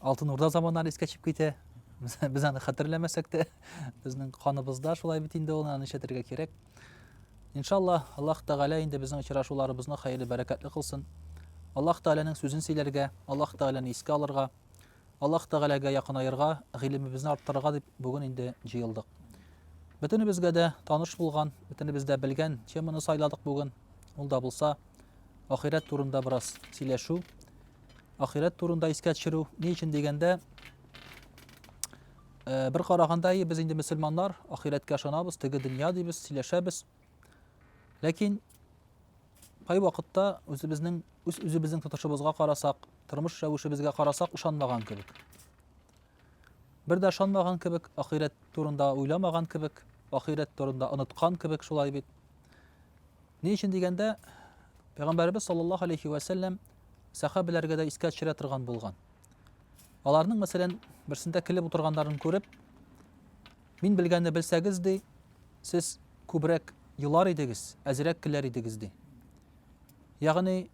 Алтын Урда заманнары искә төшеп китә. Без аны хәтерләмәсәк тә, безнең каныбызда шулай бит инде ул, аны эшләтергә кирәк. Иншалла, Аллаһ Тәгалә инде безнең очрашуларыбызны хәерле бәрәкәтле кылсын. Аллаһ Тәгаләнең сүзен сөйләргә, Аллаһ Тәгаләне искә алырга, Аллаһ Тәгаләгә якынаерга, гыйлемебезне арттырырга дип бүген инде җыелдык. Бөтенебезгә дә таныш булган, бөтенебез дә белгән теманы сайладык бүген. Ул да булса, ахирәт турында бераз сөйләшү. Ахирәт турында искә төшерү ни өчен дигәндә, э, бер караганда и без инде мөселманнар, ахирәткә ышанабыз, теге дөнья дибез, сөйләшәбез. Ләкин кай вакытта үзебезнең үз үзебезнең тотышыбызга карасак, тормыш рәвешебезгә карасак ышанмаган кебек. Бер дә ышанмаган кебек, ахирәт турында уйламаган кебек, ахирәт турында оныткан кебек шулай бит. Ни өчен дигәндә, Пәйгамбәрбез саллаллаһу алейхи ва сәлләм сәхабәләргә дә искә төшерә торган булган. Аларның, мәсәлән, берсендә килеп утырганнарын күреп, мин белгәнне белсәгез ди, сез күбрәк елар идегез, әзрәк киләр идегез ди. Ягъни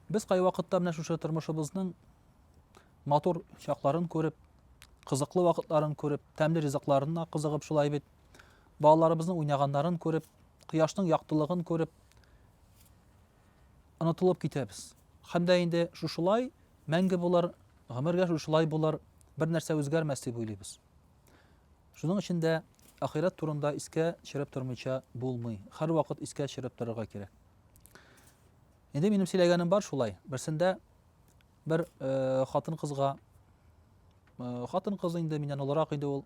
без кайвакытта менә шушы тормышыбызның Матур чакларын күреп, кызыклы вакытларын күреп, тәмле ризыкларына кызыгып шулай бит. Балаларыбызның уйнаганнарын күреп, кояшның яктылыгын күреп, онытылып китәбез. Һәм дә инде шушылай мәңге булыр, гомергә шушылай булыр, бер нәрсә үзгәрмәс дип уйлыйбыз. Шуның өчен дә ахирәт турында искә төшереп тормыйча булмый. Һәрвакыт искә төшереп торырга кирәк. Инде минем сөйләгәнем бар шулай. Берсендә бер э, хатын кызга э, хатын кыз инде миннән олырак иде ул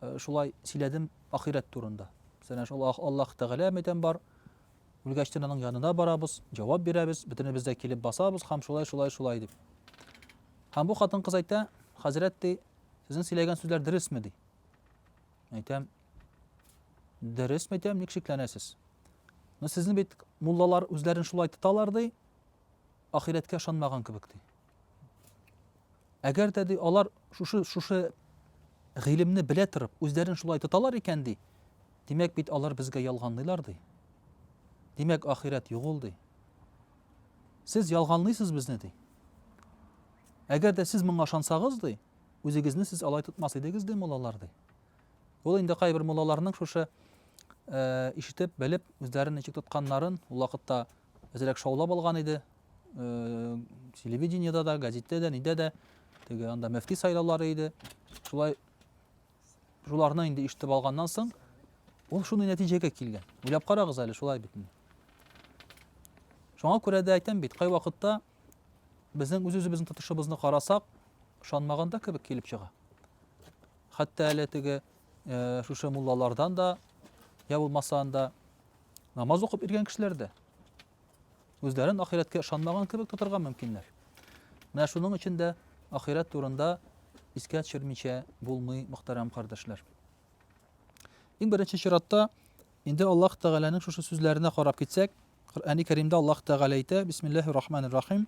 э, шулай сөйләдем ахирәт турында сәнә шул аллаһ тәгалә мәйтәм бар үлгәчтен аның янына барабыз җавап бирәбез бөтенебез дә килеп басабыз һәм шулай шулай шулай дип һәм бу хатын кыз әйтә хәзрәт ди сезнең сөйләгән сүзләр дөресме ди әйтәм дөрес мәйтәм ник шикләнәсез но сезнең бит муллалар үзләрен шулай тоталар ди Ахирәткә ышанмаган кебек, ди. Әгәр дә, ди, алар шушы, шушы гыйлемне белә торып, үзләрен шулай тоталар икән, ди, димәк бит алар безгә ялганлыйлар, ди. Димәк, ахирәт юк ул, ди. Сез ялганлыйсыз безне, ди. Әгәр дә сез моңа ышансагыз, ди, үзегезне сез алай тотмас идегез, ди, муллалар, ди. Ул инде кайбер муллаларның шушы э, ишетеп, белеп, үзләрен ничек тотканнарын, ул вакытта Әзрәк шаулап алган иде. Телевидениедә дә, газеттә дә, нидә дә теге анда мөфти сайлаулары иде. Шулай шуларны инде ишетеп алганнан соң, ул шундый нәтиҗәгә килгән. Уйлап карагыз әле, шулай бит. Шуңа күрә дә әйтәм бит, кай вакытта безнең үз-үзебезнең тотышыбызны карасак, ышанмаганда кебек килеп чыга. Хәтта әле теге э, шушы муллалардан да, я булмаса анда Намаз укып иргән кешеләр дә үзләрен ахирәткә ышанмаган кебек тотырга мөмкиннәр. Менә шуның өчен дә ахирәт турында искә төшермичә булмый, мөхтәрәм кардәшләр. Иң беренче чиратта инде Аллаһ Тәгаләнең шушы сүзләренә карап китсәк, Коръәни Кәримдә Аллаһ Тәгалә әйтә: "Бисмиллаһир рахманир рахим.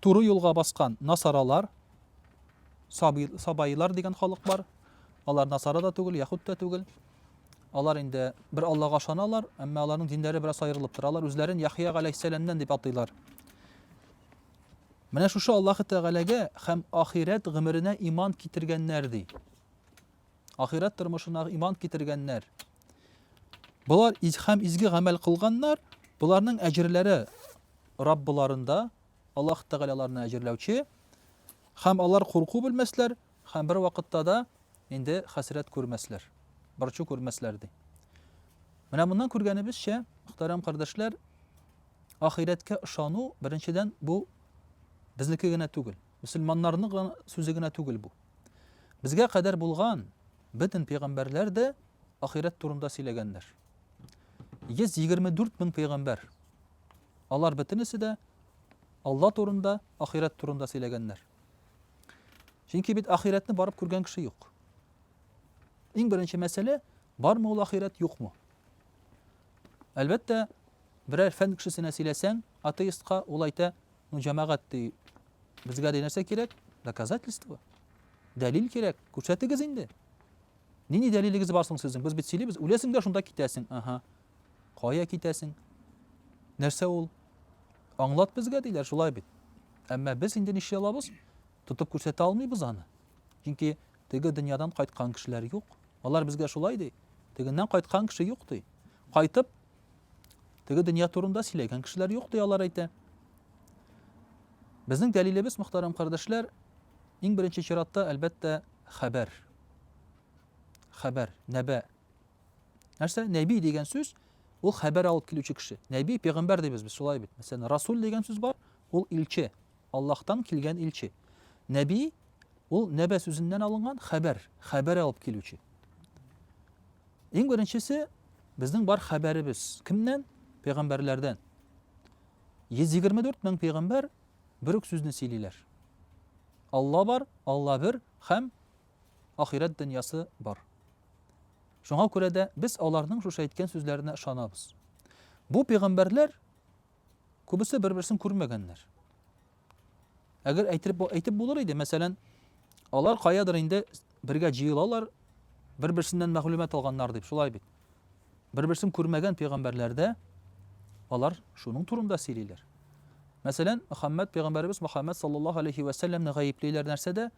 Туры юлга баскан насаралар, саби, сабаилар дигән халык бар. Алар насара да түгел, яхуд та түгел. Алар инде бер Аллага ышаналар, әмма аларның диннәре бераз аерылып тора. Алар үзләрен Яхия галәйһиссәламнән дип атыйлар. Менә шушы Аллаһы Тәгаләгә һәм ахирәт гомеренә иман китергәннәр ди. ахирәт тормышына иман китергәннәр. Болар һәм изге гамәл кылганнар, боларның әҗерләре Раббыларында, Аллаһ Тәгалә аларны әҗерләүче, һәм алар курку белмәсләр, һәм бер вакытта да инде хәсрәт күрмәсләр, борчу күрмәсләр ди. Менә моннан күргәнебезчә, мөхтәрәм кардәшләр, ахирәткә ышану, беренчедән, бу безнеке генә түгел. Мөселманнарның гына сүзе генә түгел бу. Безгә кадәр булган бөтен пәйгамбәрләр дә ахирәт турында сөйләгәннәр. 124 мең пәйгамбәр. Алар бөтенесе дә Алла турында, ахирәт турында сөйләгәннәр. Чөнки бит ахирәтне барып күргән кеше юк. Иң беренче мәсьәлә, бармы ул ахирәт, юкмы? Әлбәттә, берәр фән кешесенә сөйләсәң, атеистка, ул әйтә, Ну, җәмәгать ди, безгә ди нәрсә кирәк? Доказательство. Дәлил кирәк. Күрсәтегез инде. Нинди дәлилегез бар соң сезнең? Без бит сөйлибез, үләсең дә шунда китәсең. Ага. Кая китәсең? Нәрсә ул? Аңлат безгә диләр, шулай бит. Әмма без инде нишли алабыз? Тотып күрсәтә алмыйбыз аны. Чөнки теге дөньядан кайткан кешеләр юк. Алар безгә шулай ди. Тегеннән кайткан кеше юк ди. Кайтып Теге дөнья турында сөйләгән кешеләр юк, ди алар әйтә. Безнең дәлилебез, мөхтәрәм кардәшләр, иң беренче чиратта, әлбәттә, хәбәр. Хәбәр, нәбә. Нәрсә? Нәби дигән сүз, ул хәбәр алып килүче кеше. Нәби, пәйгамбәр дибез без, шулай бит. Мәсәлән, расул дигән сүз бар, ул илче. Аллаһтан килгән илче. Нәби, ул нәбә сүзеннән алынган, хәбәр, хәбәр алып килүче. Иң беренчесе, безнең бар хәбәребез кемнән? Пәйгамбәрләрдән. 124 мең пәйгамбәр бер үк сүзне сөйлиләр. Алла бар, Алла бер һәм ахирәт дөньясы бар. Шуңа күрә дә без аларның шушы әйткән сүзләренә ышанабыз. Бу пәйгамбәрләр Күбесе бер-берсен күрмәгәннәр. Әгәр әйтеп, әйтеп булыр иде, мәсәлән, алар каядыр инде бергә җыелалар, бер-берсеннән мәгълүмат алганнар дип, шулай бит. Бер-берсен күрмәгән пәйгамбәрләрдә алар шуның турында сөйлиләр. Мәсәлән, Мөхәммәд пәйгамбәребез Мөхәммәд саллаллаһу алейхи ва сәлламне гаеплиләр нәрсәдә?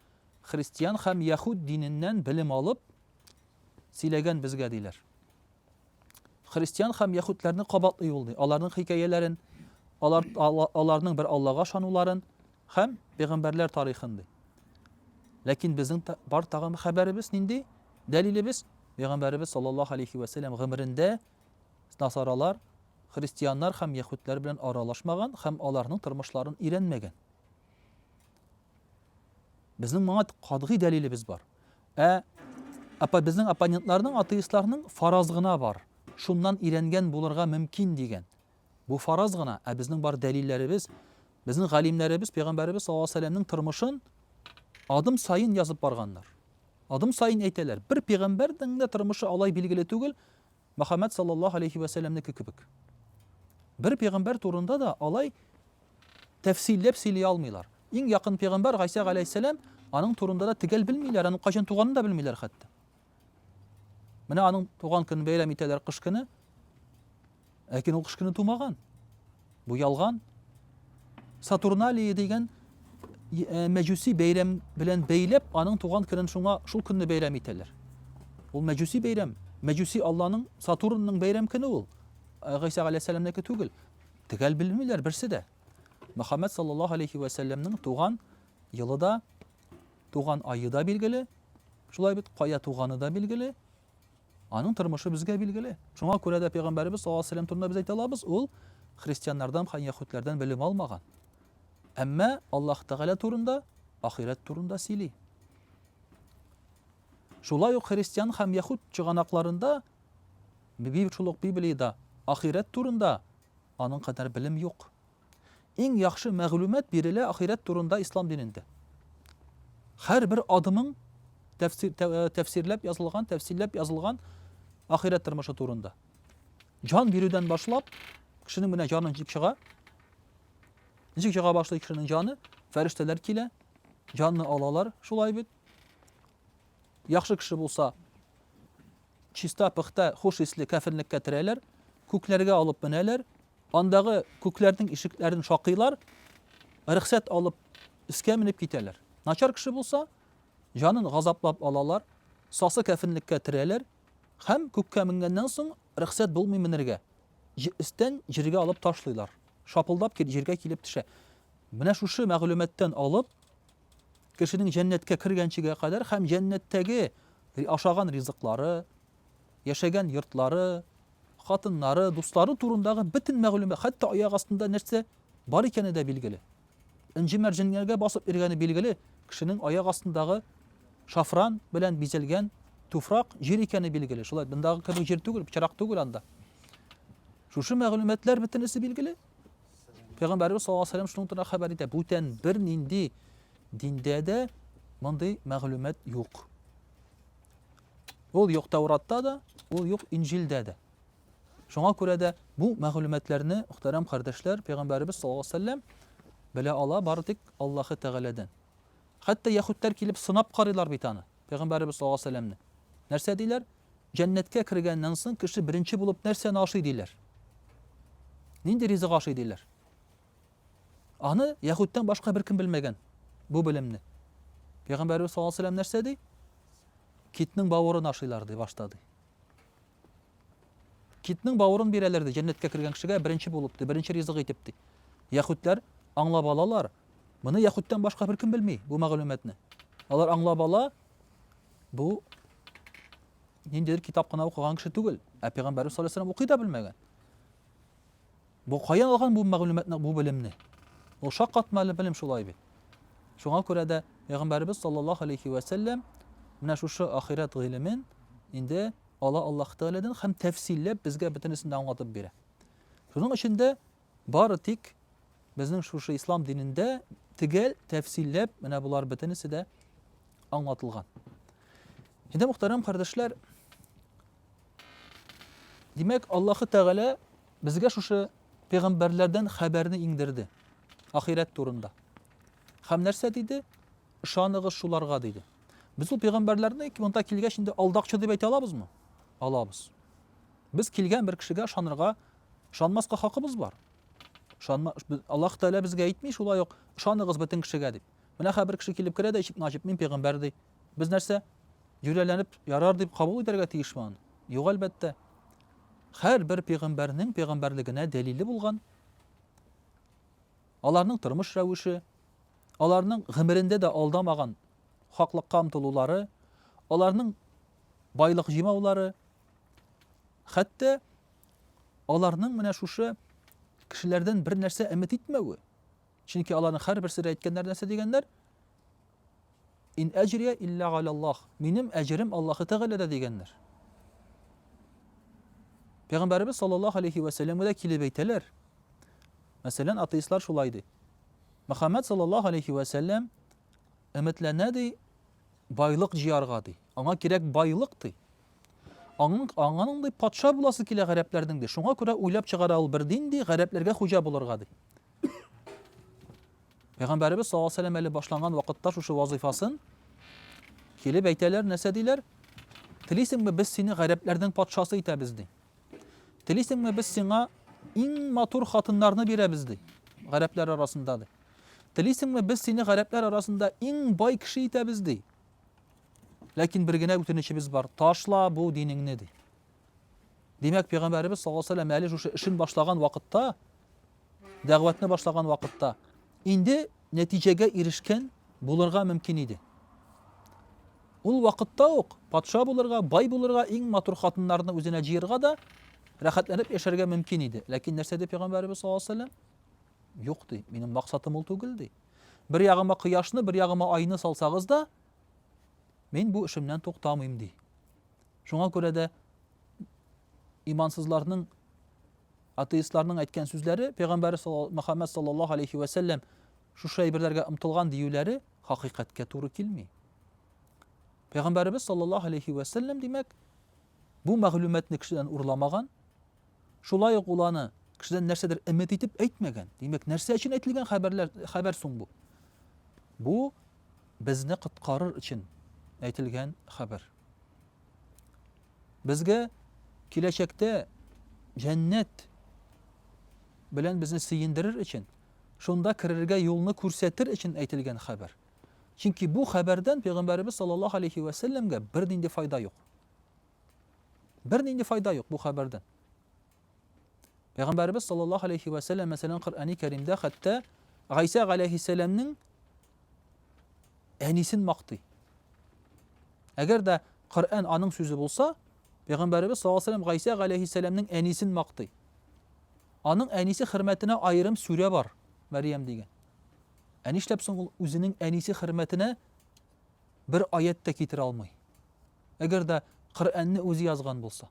Христиан һәм яһуд диненнән белем алып сөйләгән безгә диләр. Христиан һәм яһүдләрне кабатлый юллый, аларның хикәяләрен, алар, аларның бер Аллага шануларын һәм пәйгамбәрләр тарихын ди. Ләкин безнең та, бар тагын хәбәребез нинди? Дәлилебез пәйгамбәребез саллаллаһу алейхи ва сәллям гомерендә насаралар, христианнар һәм яһүдләр белән аралашмаган һәм аларның тормышларын өйрәнмәгән. Безнең моңа катгый дәлилебез бар. Ә апа безнең оппонентларның атеистларның фараз гына бар, шуннан өйрәнгән булырга мөмкин дигән. Бу фараз гына, ә безнең бар дәлилләребез, безнең галимнәребез пәйгамбәребез саллаллаһу алейһи вәсәлләмнең тормышын адым саен язып барганнар. Адым саен әйтәләр. Бер пәйгамбәрнең дә тормышы алай билгеле түгел, Мөхәммәд салләллаһу галәйһи вә сәлләмнеке кебек. Бер пәйгамбәр турында да алай тәфсилләп сөйли алмыйлар. Иң якын пәйгамбәр Гайсә галәйһиссәлам, аның турында да төгәл белмиләр, аның кайчан туганын да белмиләр хәтта. Менә аның туган көнен бәйрәм итәләр кыш көне. Ләкин ул кыш көне тумаган. Бу ялган. Сатурналия дигән э, мәҗүси бәйрәм белән бәйләп, аның туган көнен шуңа шул көнне бәйрәм итәләр. Ул мәҗүси бәйрәм. Мәҗүси Алланың Сатурнның бәйрәм көне ул. Э, Гыйса галәйһиссәламнеке түгел. Төгәл белмиләр берсе дә. Мөхәммәд саллаллаһу алейхи ва сәлламның туган елы да, туган айы да билгеле. Шулай бит, кая туганы да билгеле. Аның тормышы безгә билгеле. Шуңа күрә дә пәйгамбәребез саллаллаһу алейһи ва сәлләм турында без әйтә алабыз, ул христианнардан һәм яһүдләрдән белем алмаган. Әмма Аллаһ Тәгалә турында, ахирәт турында сөйли. Шулай ук христиан һәм яһүд чыганакларында, шул ук Библиядә ахирәт турында аның кадәр белем юк. Иң яхшы мәгълүмат бирелә ахирәт турында ислам динендә. Һәрбер адымың тәфсирләп язылган, тәфсилләп язылган ахирәт тормышы турында. Җан бирүдән башлап, кешенең менә җаны ничек чыга, ничек чыга башлый кешенең җаны, фәрештәләр килә, җанны алалар, шулай бит. Яхшы кеше булса, чиста, пөхтә, хуш исле кәфенлеккә терәләр, күкләргә алып менәләр, Андагы күкләрнең ишекләрен шакыйлар, рөхсәт алып, өскә менеп китәләр. Начар кеше булса, җанын газаплап алалар, сасы кәфенлеккә терәләр һәм күккә менгәннән соң рөхсәт булмый менергә. Өстән җиргә алып ташлыйлар. Шапылдап җиргә килеп төшә. Менә шушы мәгълүматтан алып, кешенең җәннәткә кергәнчегә кадәр һәм җәннәттәге ашаган ризыклары, яшәгән йортлары, хатыннары, дуслары турындагы бөтен мәгълүмат, хәтта аяк астында нәрсә бар икәне дә билгеле. Энҗе-мәрҗәнгә басып йөргәне билгеле, кешенең аяк астындагы шафран белән бизәлгән туфрак җир икәне билгеле. Шулай мондагы кебек җир түгел, пычрак түгел анда. Шушы мәгълүматлар бөтенесе билгеле. Пәйгамбәрбез саллаллаһу алейһи ва сәлләм шуның турында хәбәр итә. Бүтән бер нинди диндә дә мондый мәгълүмат юк. Ул юк Тәуратта да, ул юк Инҗилдә дә. Шуңа күрә дә бу мәгълүматларны, мөхтәрәм кардәшләр, пәйгамбәребез саллаллаһу алейһи ва сәлләм белә ала бары тик Аллаһы Тәгаләдән. Хәтта яһүдләр килеп сынап карыйлар бит аны, пәйгамбәребез саллаллаһу алейһи ва сәлләмне. Нәрсә диләр? Җәннәткә кергәннән соң кеше беренче булып нәрсәне ашый диләр? Нинди ризык ашый диләр? Аны яһүдтән башка беркем белмәгән бу белемне. Пәйгамбәрбез саллаллаһу алейһи ва сәлләм нәрсә ди? Китнең бавырын ашыйлар ди башта ди. Китнең бавырын бирәләр ди җәннәткә кергән кешегә беренче булып ди, беренче ризык итеп ди. Яһүдләр аңлап алалар. Моны яһүдтән башка беркем белми бу мәгълүматны. Алар аңлап ала, бу ниндидер китап кына укыган кеше түгел, ә пәйгамбәрбез саллаллаһу алейһи ва сәлләм укый да белмәгән. Бу каян алган бу мәгълүматны, бу белемне? Ул шаккатмалы белем шул ай бит. Шуңа күрә дә Пәйгамбәребез саллаллаһу алейхи вә сәлләм менә шушы ахирәт гыйлемен инде ала Аллаһ Тәгаләдән һәм тәфсилләп безгә бөтенесен дә аңлатып бирә. Шуның өчен дә бары тик безнең шушы ислам динендә тегәл тәфсилләп менә болар бөтенесе дә аңлатылган. Инде мөхтәрәм кардәшләр, димәк, Аллаһ Тәгалә Безгә шушы пәйгамбәрләрдән хәбәрне иңдерде, ахирәт турында. Һәм нәрсә диде? Ышаныгыз шуларга диде. Без ул пәйгамбәрләрне монда килгәч инде алдакчы дип әйтә алабызмы? Алабыз. Без килгән бер кешегә ышанырга, ышанмаска хакыбыз бар. Ышанма, Аллаһ Тәгалә безгә әйтми шулай ук, ышаныгыз бөтен кешегә дип. Менә хәбер кеше килеп керә дә ишекне ачып, мин пәйгамбәр ди. Без нәрсә, юләләнеп ярар дип кабул итәргә тиешме аны? Юк, әлбәттә. Хәр бер пигамбәрнең пигамбәрлегенә дәлиле булган, аларның тормыш рәвеше, аларның гомерендә дә алдамаган хаклыкка омтылулары, аларның байлык җимаулары, хәтта аларның менә шушы кешеләрдән бер нәрсә өмет итмәве, Чөнки аларның һәрберсе дә әйткән нәрсә дигәннәр? Ин әҗрия илля галяллах. Минем әҗерем Аллаһы Тәгаләдә дигәннәр. Пәйгамбәрбез саллаллаһу алейхи ва сәлләмгә дә килеп әйтәләр. Мәсәлән, атеистлар шулай ди. Мөхәммәд саллаллаһу алейхи ва сәлләм өметләнә ди байлык җыярга ди. Аңа кирәк байлык ди. Аның аңаның ди патша буласы килә гарәпләрнең ди. Шуңа күрә уйлап чыгара ул бер дин ди, гарәпләргә хуҗа булырга ди. Пәйгамбәребез саллаллаху алейһи әле башланган вакытта шушы вазыйфасын килеп әйтәләр, нәрсә диләр? Телисеңме, без сине гарәпләрнең патшасы итәбез ди. Телисеңме, без сиңа иң матур хатыннарны бирәбез ди. Гарәпләр арасында ди. Телисеңме, без сине гарәпләр арасында иң бай кеше итәбез ди. Ләкин бер генә үтенечебез бар. Ташла бу динеңне ди. Димәк, пәйгамбәребез саллаллаһу алейһи вәсәлләм әле шушы эшен башлаган вакытта, дәгъватны башлаган вакытта инде нәтиҗәгә ирешкән булырга мөмкин иде. Ул вакытта ук патша булырга, бай булырга, иң матур хатыннарны үзенә җыерга да, рәхәтләнеп яшәргә мөмкин иде. Ләкин нәрсә диде пәйгамбәребез саллаллаһу алейһи вәсәлләм? Юк ди, минем максатым ул түгел ди. Бер ягыма кояшны, бер ягыма айны салсагыз да, мин бу эшемнән туктамыйм ди. Шуңа күрә дә имансызларның атеистларның әйткән сүзләре пәйгамбәр Мөхәммәд саллаллаһу алейхи ва сәлләм шушы әйберләргә омтылган диюләре хакыйкатькә туры килми. Пәйгамбәребез саллаллаһу алейхи ва сәлләм димәк, бу мәгълүматны кешедән урламаган, Шулай ук ул аны кешедән нәрсәдер өмет итеп әйтмәгән. Димәк, нәрсә өчен әйтелгән хәбәрләр, хәбәр соң бу? Бу безне коткарыр өчен әйтелгән хәбәр. Безгә киләчәктә җәннәт белән безне сөендерер өчен, шунда керергә юлны күрсәтер өчен әйтелгән хәбәр. Чөнки бу хәбәрдән пәйгамбәребез саллаллаһу алейхи вәсәлләмгә бернинди файда юк. Бернинди файда юк бу хәбәрдән. Пәйгамбәребез саллаллаһу алейхи вә сәлләм мәсәлән Коръәни Кәримдә хәтта Гайсә галәйһиссәламнең әнисен мактый. Әгәр дә Коръән аның сүзе булса, Пәйгамбәребез саллаллаһу алейхи вә сәлләм Гайсә галәйһиссәламнең әнисен мактый. Аның әнисе хөрмәтенә аерым сүрә бар, Мәрьям дигән. Ә нишләп соң ул үзенең әнисе хөрмәтенә бер аять тә китерә алмый? әгәр дә Коръәнне үзе язган булса?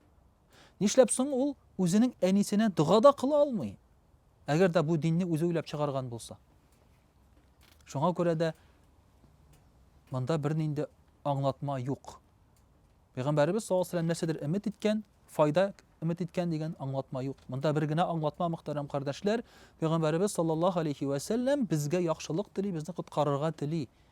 Нишләп соң ул үзенең әнисенә дога да кыла алмый? Әгәр дә бу динне үзе уйлап чыгарган булса. Шуңа күрә дә монда бернинди аңлатма юк. Пәйгамбәребез саллаллаһу алейһи нәрсәдер өмет иткән, файда өмет иткән дигән аңлатма юк. Монда бер генә аңлатма мөхтәрәм кардәшләр, Пәйгамбәребез саллаллаһу алейһи ва сәлләм безгә яхшылык тели, безне коткарырга тели.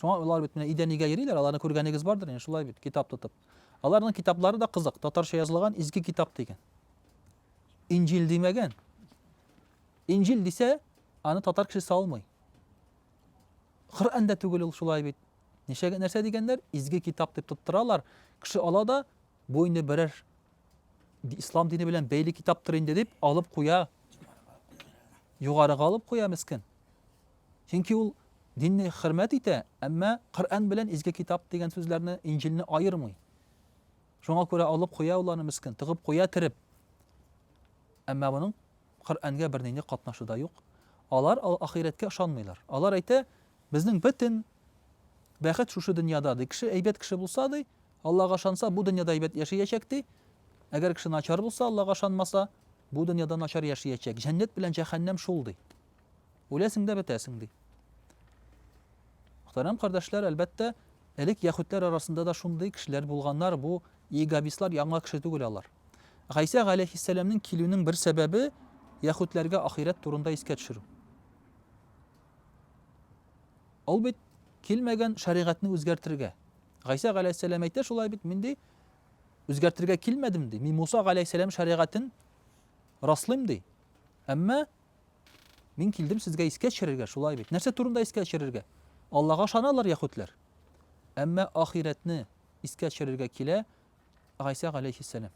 Шуңа алар бит менә идәнигә йөриләр, аларны күргәнегез бардыр инде, шулай бит, китап тотып. Аларның китаплары да кызык, татарча язылган изге китап дигән. Инҗил димәгән. Инҗил дисә, аны татар кеше салмый. Коръән дә түгел ул шулай бит. Ничәгә нәрсә дигәннәр? Изге китап дип тоттыралар. Кеше ала да, бу инде берәр ислам дине белән бәйле китаптыр инде дип алып куя. Югарыга алып куя мескин. Чөнки ул динне хөрмәт итә, әмма Коръән белән изге китап дигән сүзләрне, Инҗилне аермый. Шуңа күрә алып куя ул аны мескен, тыгып куя кереп. Әмма моның Коръәнгә бернинди катнашы да юк. Алар ахирәткә ышанмыйлар. Алар әйтә, безнең бөтен бәхет шушы дөньяда, ди. Кеше әйбәт кеше булса, ди, Аллага ышанса, бу дөньяда әйбәт яшиячәк, ди. Әгәр кеше начар булса, Аллага ышанмаса, бу дөньяда начар яшиячәк. Җәннәт белән җәһәннәм шул, ди. Үләсең дә бетәсең, ди. Мөхтәрәм кардәшләр, әлбәттә, элек яхүдләр арасында да шундый кешеләр булганнар, бу иегабислар яңа кеше түгел алар. Гайсә галәйһиссәламнең килүнең бер сәбәбе яхүдләргә ахирәт турында искә төшерү. Ул бит килмәгән шәригатьне үзгәртергә. Гайсә галәйһиссәлам әйтә шулай бит, мин ди үзгәртергә килмәдем ди. Мин Муса галәйһиссәлам шәригатен раслыйм ди. Әмма Мин килдем сезгә искә төшерергә, шулай бит. Нәрсә турында искә төшерергә? Аллага ышаналар яхүтләр. Әмма ахирәтне искә төшерергә килә Гайсә галәйһиссәлам.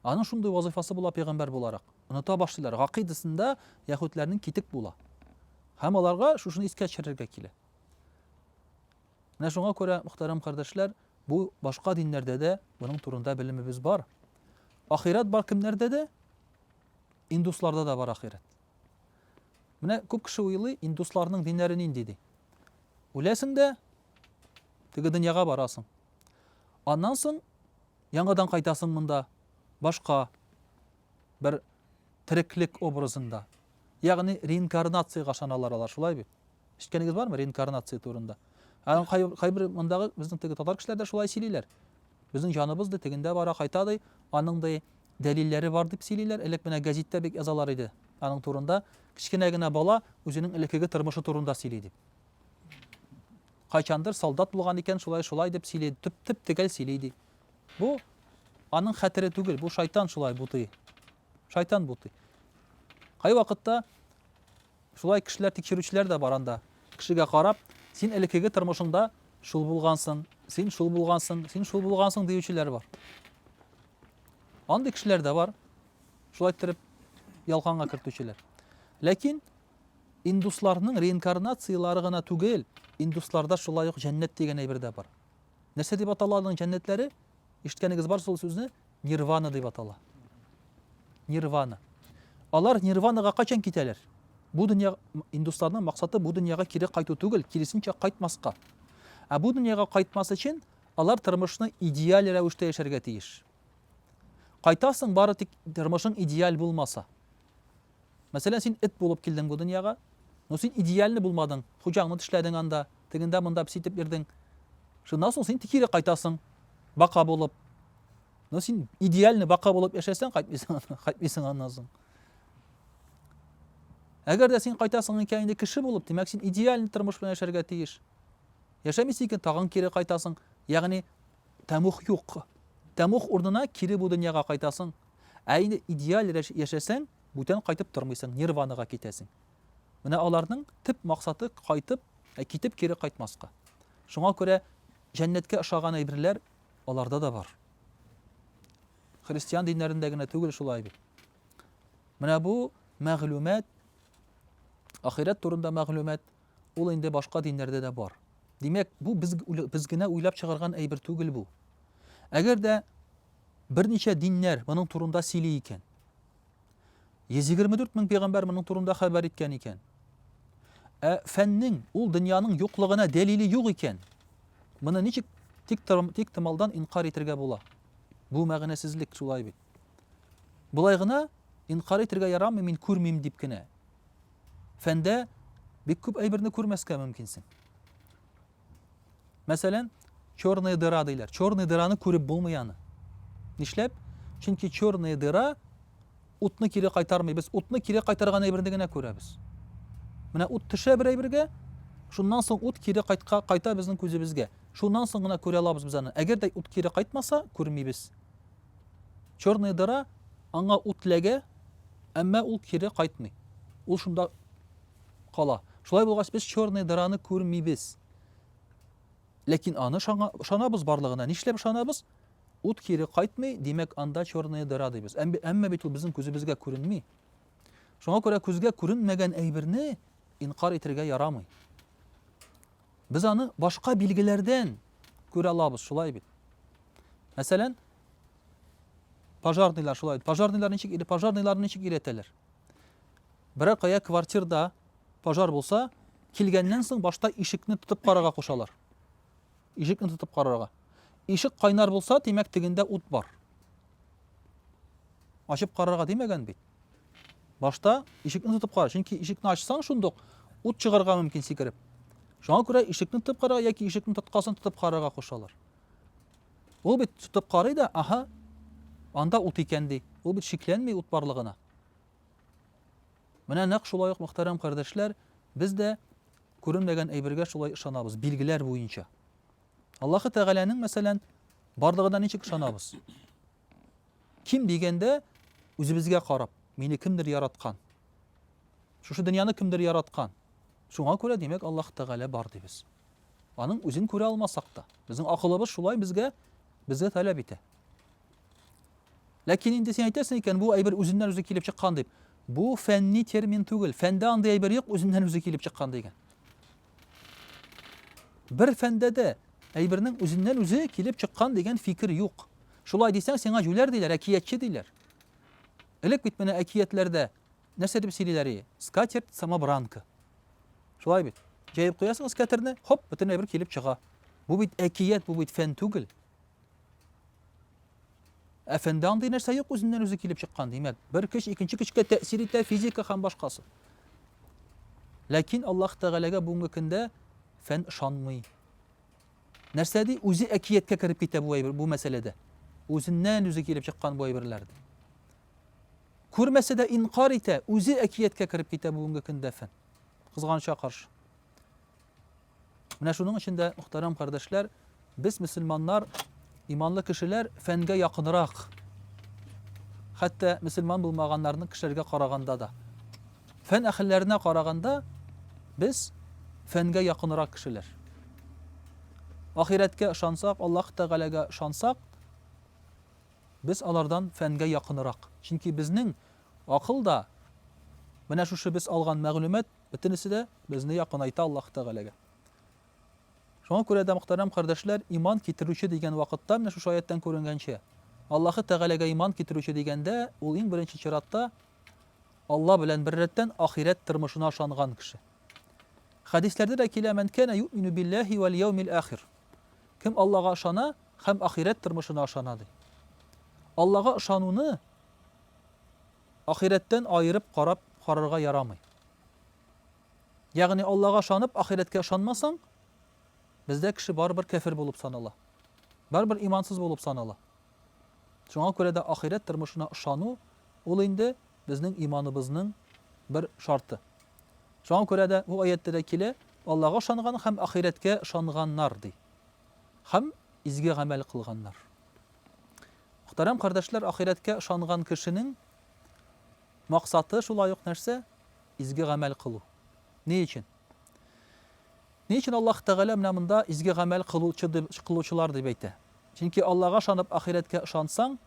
Аның шундый вазыйфасы була пәйгамбәр буларак. Оныта башлыйлар. Гакыйдасында яхүтләрнең китек була. Һәм аларга шушыны искә төшерергә килә. Менә шуңа күрә, мөхтәрәм кардәшләр, бу башка диннәрдә дә моның турында белемебез бар. Ахират бар кемнәрдә дә? Индусларда да бар ахирәт. Менә күп кеше уйлый, индусларның диннәре нинди ди. Үләсең дә, теге дөньяга барасың. Аннан соң яңадан кайтасың монда, башка бер тереклек образында. Ягъни реинкарнациягә ышаналар алар, шулай бит? Ишеткәнегез бармы реинкарнация турында? Аны кай, кайбер мондагы безнең теге татар кешеләр дә шулай сөйлиләр. Безнең җаныбыз ди тегендә бара, кайта ди, аның ди дәлилләре бар дип сөйлиләр. Элек менә гәзиттә бик язалар иде аның турында. Кечкенә генә бала үзенең элеккеге тормышы турында сөйли дип. Кайчандыр солдат булган икән, шулай шулай дип сөйли, төп төп тегәл сөйли ди. Бу аның хәтере түгел, бу шайтан шулай бутый. Шайтан бутый. Кай вакытта Шулай кешеләр тикшерүчеләр дә бар анда. Кешегә карап, син элеккеге тормышыңда шул булгансың, син шул булгансың, син шул булгансың диючеләр бар. Андый кешеләр дә бар. Шулай иттереп ялканга кертүчеләр. Ләкин индусларның реинкарнацияләре гына түгел, индусларда шулай ук җәннәт дигән әйбер дә бар. Нәрсә дип атала аларның җәннәтләре? Ишеткәнегез бар шул сүзне? Нирвана дип атала. Нирвана. Алар нирванага кайчан китәләр? Бу дөнья индусларның максаты бу дөньяга кире кайту түгел, киресенчә кайтмаска. Ә бу дөньяга кайтмас өчен алар тормышны идеаль рәвештә яшәргә тиеш. Кайтасың бары тик тормышың идеаль булмаса. Мәсәлән, син эт булып килдең бу дөньяга, но син идеальный булмадың, хуҗаңны тешләдең анда, тегендә монда песи итеп йөрдең. Шуннан соң син кире кайтасың, бака булып. Но син идеальный бака булып яшәсәң, кайтмыйсың, кайтмыйсың аннан соң. Әгәр дә син кайтасың икән инде кеше булып, димәк, син идеальный тормыш белән яшәргә тиеш. Яшәмисең икән, тагын кире кайтасың. Ягъни, Тәмуг юк. Тәмуг урынына кире бу дөньяга кайтасың. Ә инде идеаль яшәсәң, бүтән кайтып тормыйсың, нирванага китәсең. Менә аларның төп максаты кайтып, ә китеп кире кайтмаска. Шуңа күрә җәннәткә ошаган әйберләр аларда да бар. Христиан диннәрендә генә түгел шулай бит. Менә бу мәгълүмат, ахирәт турында мәгълүмат Ул инде башка диннәрдә дә бар. Димәк, бу без без генә уйлап чыгарган әйбер түгел бу. Әгәр дә берничә диннәр моның турында сөйли икән, 124 мең пәйгамбәр моның турында хәбәр иткән икән, ә фәннең ул дөньяның юклыгына дәлиле юк икән, моны ничек тик тик томалдан инкар итергә була? Бу мәгънәсезлек шулай бит. Болай гына инкар итергә ярамый, мин күрмим дип кенә. фәндә бик күп әйберне күрмәскә мөмкинсең. Мәсәлән, черная дыра диләр. Черная дыраны күреп булмый аны. Нишләп? Чөнки черная дыра утны кире кайтармый. Без утны кире кайтарган әйберне генә күрәбез. Менә ут төшә бер әйбергә, шуннан соң ут кире кайтка кайта безнең күзебезгә. Шуннан соң гына күрә алабыз без аны. Әгәр дә ут кире кайтмаса, күрмибез. Черная дыра аңа ут ләгә, әмма ул кире кайтмый. Ул шунда кала. Шулай булгач, без черная дыраны күрмибез. Ләкин аны ышанабыз барлыгына. Нишләп ышанабыз? Ут кире кайтмый, димәк, анда черная дыра дибез. Әмма бит ул безнең күзебезгә күренми. Шуңа күрә күзгә күренмәгән әйберне инкар итергә ярамый. Без аны башка билгеләрдән күрә алабыз, шулай бит. Мәсәлән, пожарныйлар шулай бит. Пожарныйлар ничек или пожарныйлар ничек иретәләр? Берәр кая квартирда пожар булса, килгәннән соң башта ишекне тотып карарга кушалар. Ишекне тотып карарга. Ишек кайнар булса, димәк, тегендә ут бар. Ачып карарга димәгән бит. Башта ишекне тотып кара, чөнки ишекне ачсаң шундук ут чыгарга мөмкин сикереп. Шуңа күрә ишекне тотып кара яки ишекне тоткасын тотып карарга кушалар. Ул бит тотып карый да, аһа, анда ут икән ди. Ул бит шикләнми ут барлыгына. Менә нәкъ шулай ук мөхтәрәм кардәшләр, без дә күренмәгән әйбергә шулай ышанабыз, билгеләр буенча. Аллаһы Тәгаләнең, мәсәлән, барлыгына ничек ышанабыз? Ким дигәндә, үзебезгә карап, мине кемдер яраткан. Шушы дөньяны кемдер яраткан. Шуңа күрә, димәк, Аллаһ Тәгалә бар дибез. Аның үзен күрә алмасак та, безнең акылыбыз шулай безгә безгә таләп итә. Ләкин инде син әйтәсең икән, бу әйбер үзеннән үзе килеп чыккан дип. Бу фәнни термин түгел. Фәндә андый әйбер юк, үзеннән үзе килеп чыккан дигән. Бер фәндә дә әйбернең үзеннән үзе килеп чыккан дигән фикер юк. Шулай дисәң, сиңа җүләр диләр, әкиятче диләр. Элек бит менә әкиятләрдә нәрсә дип сөйлиләр ие? Скатерть самобранка. Шулай бит. Җәеп куясың скатерне, хоп, бөтен әйбер килеп чыга. Бу бит әкият, бу бит фән түгел. Әфәнде андый нәрсә юк үзеннән үзе килеп чыккан, димәк, бер көч икенче көчкә тәэсир итә, физика һәм башкасы. Ләкин Аллаһ Тәгаләгә бүгенге көндә фән ышанмый. Нәрсә ди, үзе әкияткә кереп китә бу әйбер, бу мәсьәләдә. Үзеннән үзе килеп чыккан бу әйберләр ди. Күрмәсә дә инкар итә, үзе әкияткә кереп китә бүгенге көндә фән. Кызганыча каршы. Менә шуның өчен дә, мөхтәрәм кардәшләр, без, мөселманнар, иманлы кешеләр, фәнгә якынрак. Хәтта мөселман булмаганнарның кешеләргә караганда да. Фән әхелләренә караганда, без фәнгә якынрак кешеләр. Ахирәткә ышансак, Аллаһ Тәгаләгә ышансак, без алардан фәнгә якынрак. Чөнки безнең акыл да менә шушы без алган мәгълүмат Бөтенесе дә безне якынайта Аллаһ Тәгаләгә. Шуңа күрә дә, мөхтәрәм кардәшләр, иман китерүче дигән вакытта, менә шушы аяттан күренгәнчә, Аллаһы Тәгаләгә иман китерүче дигәндә, ул иң беренче чиратта Алла белән бер рәттән ахирәт тормышына ышанган кеше. Хәдисләрдә дә килә, "Мән кана юмину биллаһи вал яумил ахир". Кем Аллага ышана һәм ахирәт тормышына ышана, ди. Аллага ышануны Ахирәттән аерып карап карарга ярамый. Ягъни Аллага ышанып, ахирәткә ышанмасаң, бездә кеше барыбер кәфер булып санала. Барыбер имансыз булып санала. Шуңа күрә дә ахирәт тормышына ышану ул инде безнең иманыбызның бер шарты. Шуңа күрә дә бу аяттә дә килә, Аллага ышанган һәм ахирәткә ышанганнар ди. Һәм изге гамәл кылганнар. Мөхтәрәм кардәшләр, ахирәткә ышанган кешенең максаты шулай ук нәрсә? Изге гамәл кылу. Ни өчен? Ни өчен Аллаһ Тәгалә менә монда изге гамәл кылучы дип, кылучылар дип әйтә? Чөнки Аллаһга ышанып, ахирәткә ышансаң,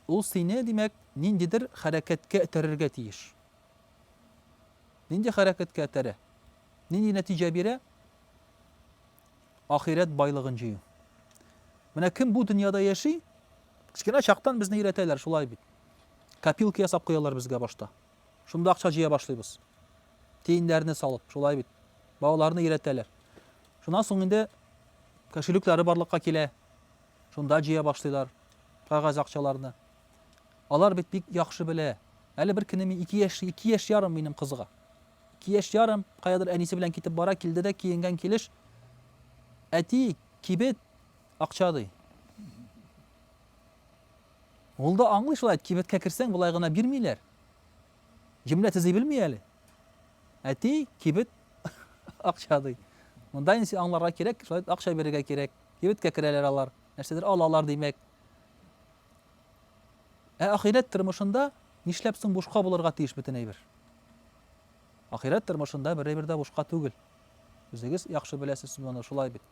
ул сине, димәк, ниндидер хәрәкәткә этәрергә тиеш. Нинди хәрәкәткә этәрә? Нинди нәтиҗә бирә? Ахирәт байлыгын җыю. Менә кем бу дөньяда яши, кечкенә чактан безне өйрәтәләр, шулай бит. Копилка ясап куялар безгә башта. Шунда акча җыя башлыйбыз. Тиеннәрне салып, шулай бит. Балаларны өйрәтәләр. Шуннан соң инде кошелеклары барлыкка килә. Шунда җыя башлыйлар кагаз акчаларны. Алар бит бик яхшы белә. Әле бер көнне мин 2 яшь, 2 яшь ярым минем кызга. Ике яшь ярым, каядыр әнисе белән китеп бара, килде дә киенгән килеш, Әти, кибет, акча, ди. Ул да аңлый шулай, кибеткә керсәң, болай гына бирмиләр. Җөмлә төзи белми әле. Әти, кибет, акча, ди. Монда инде аңларга кирәк, шулай акча бирергә кирәк. Кибеткә керәләр алар. Нәрсәдер алалар, димәк. Ә ахирәт тормышында нишләп соң бушка булырга тиеш бөтен әйбер? Ахирәт тормышында бер әйбер дә бушка түгел. Үзегез яхшы беләсез моны, шулай бит.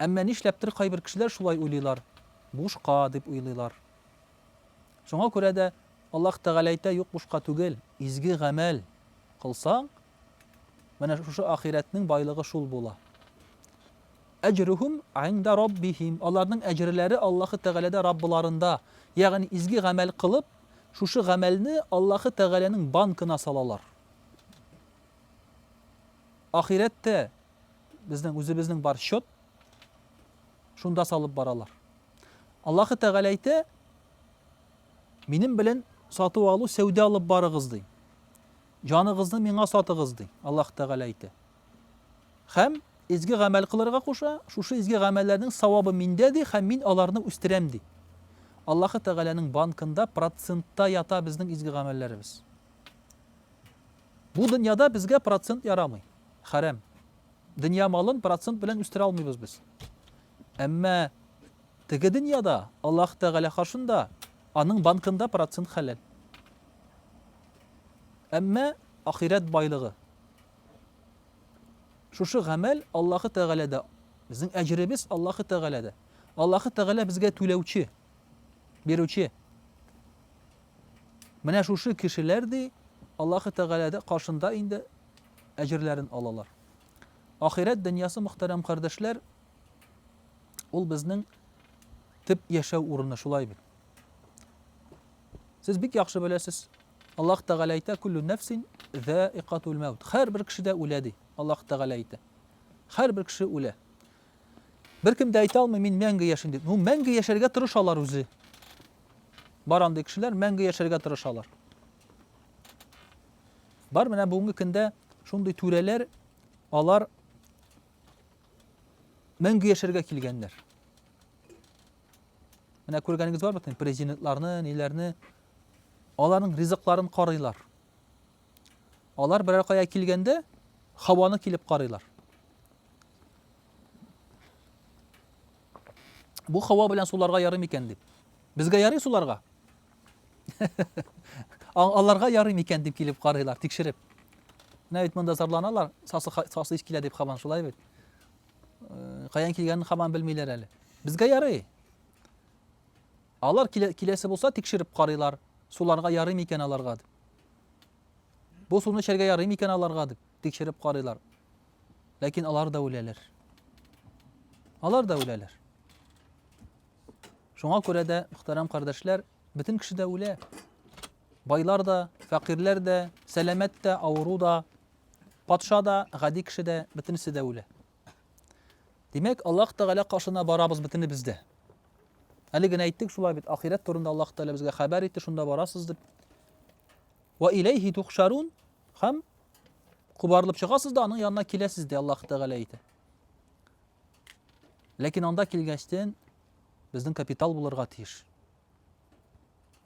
Әмма нишләптер кайбер кешеләр шулай уйлыйлар, бушка дип уйлыйлар. Шуңа күрә дә Аллаһ Тәгалә әйтә, юк бушка түгел, изге гамәл кылсаң, менә шушы ахирәтнең байлыгы шул була. Әҗрүһүм гиндә Раббиһим, аларның әҗерләре Аллаһы Тәгаләдә Раббыларында, ягъни изге гамәл кылып, шушы гамәлне Аллаһы Тәгаләнең банкына салалар. Ахирәт тә безнең үзебезнең бар счет, шунда салып баралар. Аллаһы Тәгалә әйтә, минем белән сату алу сәүдә алып барыгыз ди. Җаныгызны миңа сатыгыз ди, Аллаһ Тәгалә әйтә. Һәм изге гамәл кылырга куша, шушы изге гамәлләрнең савабы миндә, ди, һәм мин аларны үстерәм, ди. Аллаһы Тәгаләнең банкында процентта ята безнең изге гамәлләребез. Бу дөньяда безгә процент ярамый, хәрәм. Дөнья малын процент белән үстерә алмыйбыз без. Әмма теге дөньяда Аллаһ Тәгалә каршында аның банкында процент хәләл. Әмма ахирәт байлыгы Шушы гамәл Аллаһы Тәгаләдә. Безнең әҗеребез Аллаһы Тәгаләдә. Аллаһы Тәгалә безгә түләүче, бирүче. Менә шушы кешеләр ди Аллаһы Тәгаләдә каршында инде әҗерләрен алалар. Ахирәт дөньясы мөхтәрәм кардәшләр, ул безнең төп яшәү урыны шулай бит. Сез бик яхшы беләсез. Аллаһ Тәгалә әйтә, Күллү нәфсин зәикатул мәут. Һәрбер кеше дә үлә ди. Аллаһ Тәгалә әйтә. Һәрбер кеше үлә. Беркем дә әйтә алмый, мин мәңге яшим дип. Ну, мәңге яшәргә тырышалар үзе. Бар андый кешеләр мәңге яшәргә тырышалар. Бар менә бүгенге көндә шундый түрәләр, алар мәңге яшәргә килгәннәр. Менә күргәнегез бар бит, президентларны, ниләрне. Аларның ризыкларын карыйлар. Алар берәр кая килгәндә һаваны килеп карыйлар. Бу һава белән суларга ярый микән дип. Безгә ярый суларга. Аларга ярый микән дип килеп карыйлар, тикшереп. Менә бит монда зарланалар, сасы сасы килә дип хабан шулай бит. каян килгәнен хаман белмиләр әле. Безгә ярый. Алар киләсе булса тикшереп карыйлар. Суларга ярый микән аларга дип. Бу суны эчәргә ярый микән аларга дип тикшереп карыйлар. Ләкин алар да үләләр. Алар да үләләр. Шуңа күрә дә, мөхтәрәм кардәшләр, бөтен кеше дә үлә. Байлар да, фәкыйрьләр дә, сәламәт тә, авыру да, Патша да, гади кеше дә, бөтенесе дә үлә. Димәк, Аллаһ Тәгалә каршына барабыз бөтенебез дә. Әле генә әйттек шулай бит, ахирәт турында Аллаһ Тәгалә безгә хәбәр итте, шунда барасыз дип. Ва иләйһи тухшарун һәм кубарылып чыгасыз да аның янына киләсез ди Аллаһ Тәгалә әйтә. Ләкин анда килгәчтен безнең капитал булырга тиеш.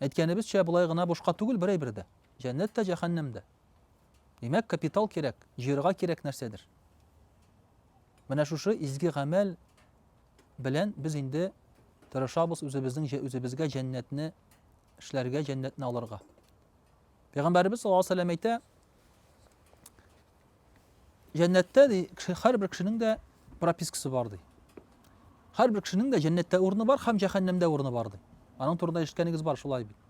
Әйткәнебезчә, болай гына бушка түгел берәй бердә. Җәннәт тә, җәһәннәм дә. Димәк, капитал кирәк, җыерга кирәк нәрсәдер. Менә шушы изге гамәл белән без инде тырышабыз үзебезнең үзебезгә җәннәтне эшләргә, җәннәтне алырга. Пәйгамбәрбез саллаллаһу алейһи ва сәлләм әйтә, Җәннәттә ди, һәрбер кешенең дә пропискасы бар ди. Һәрбер кешенең дә җәннәттә урыны бар һәм җәһәннәмдә урыны бар ди. Аның турында ишеткәнегез бар шулай бит.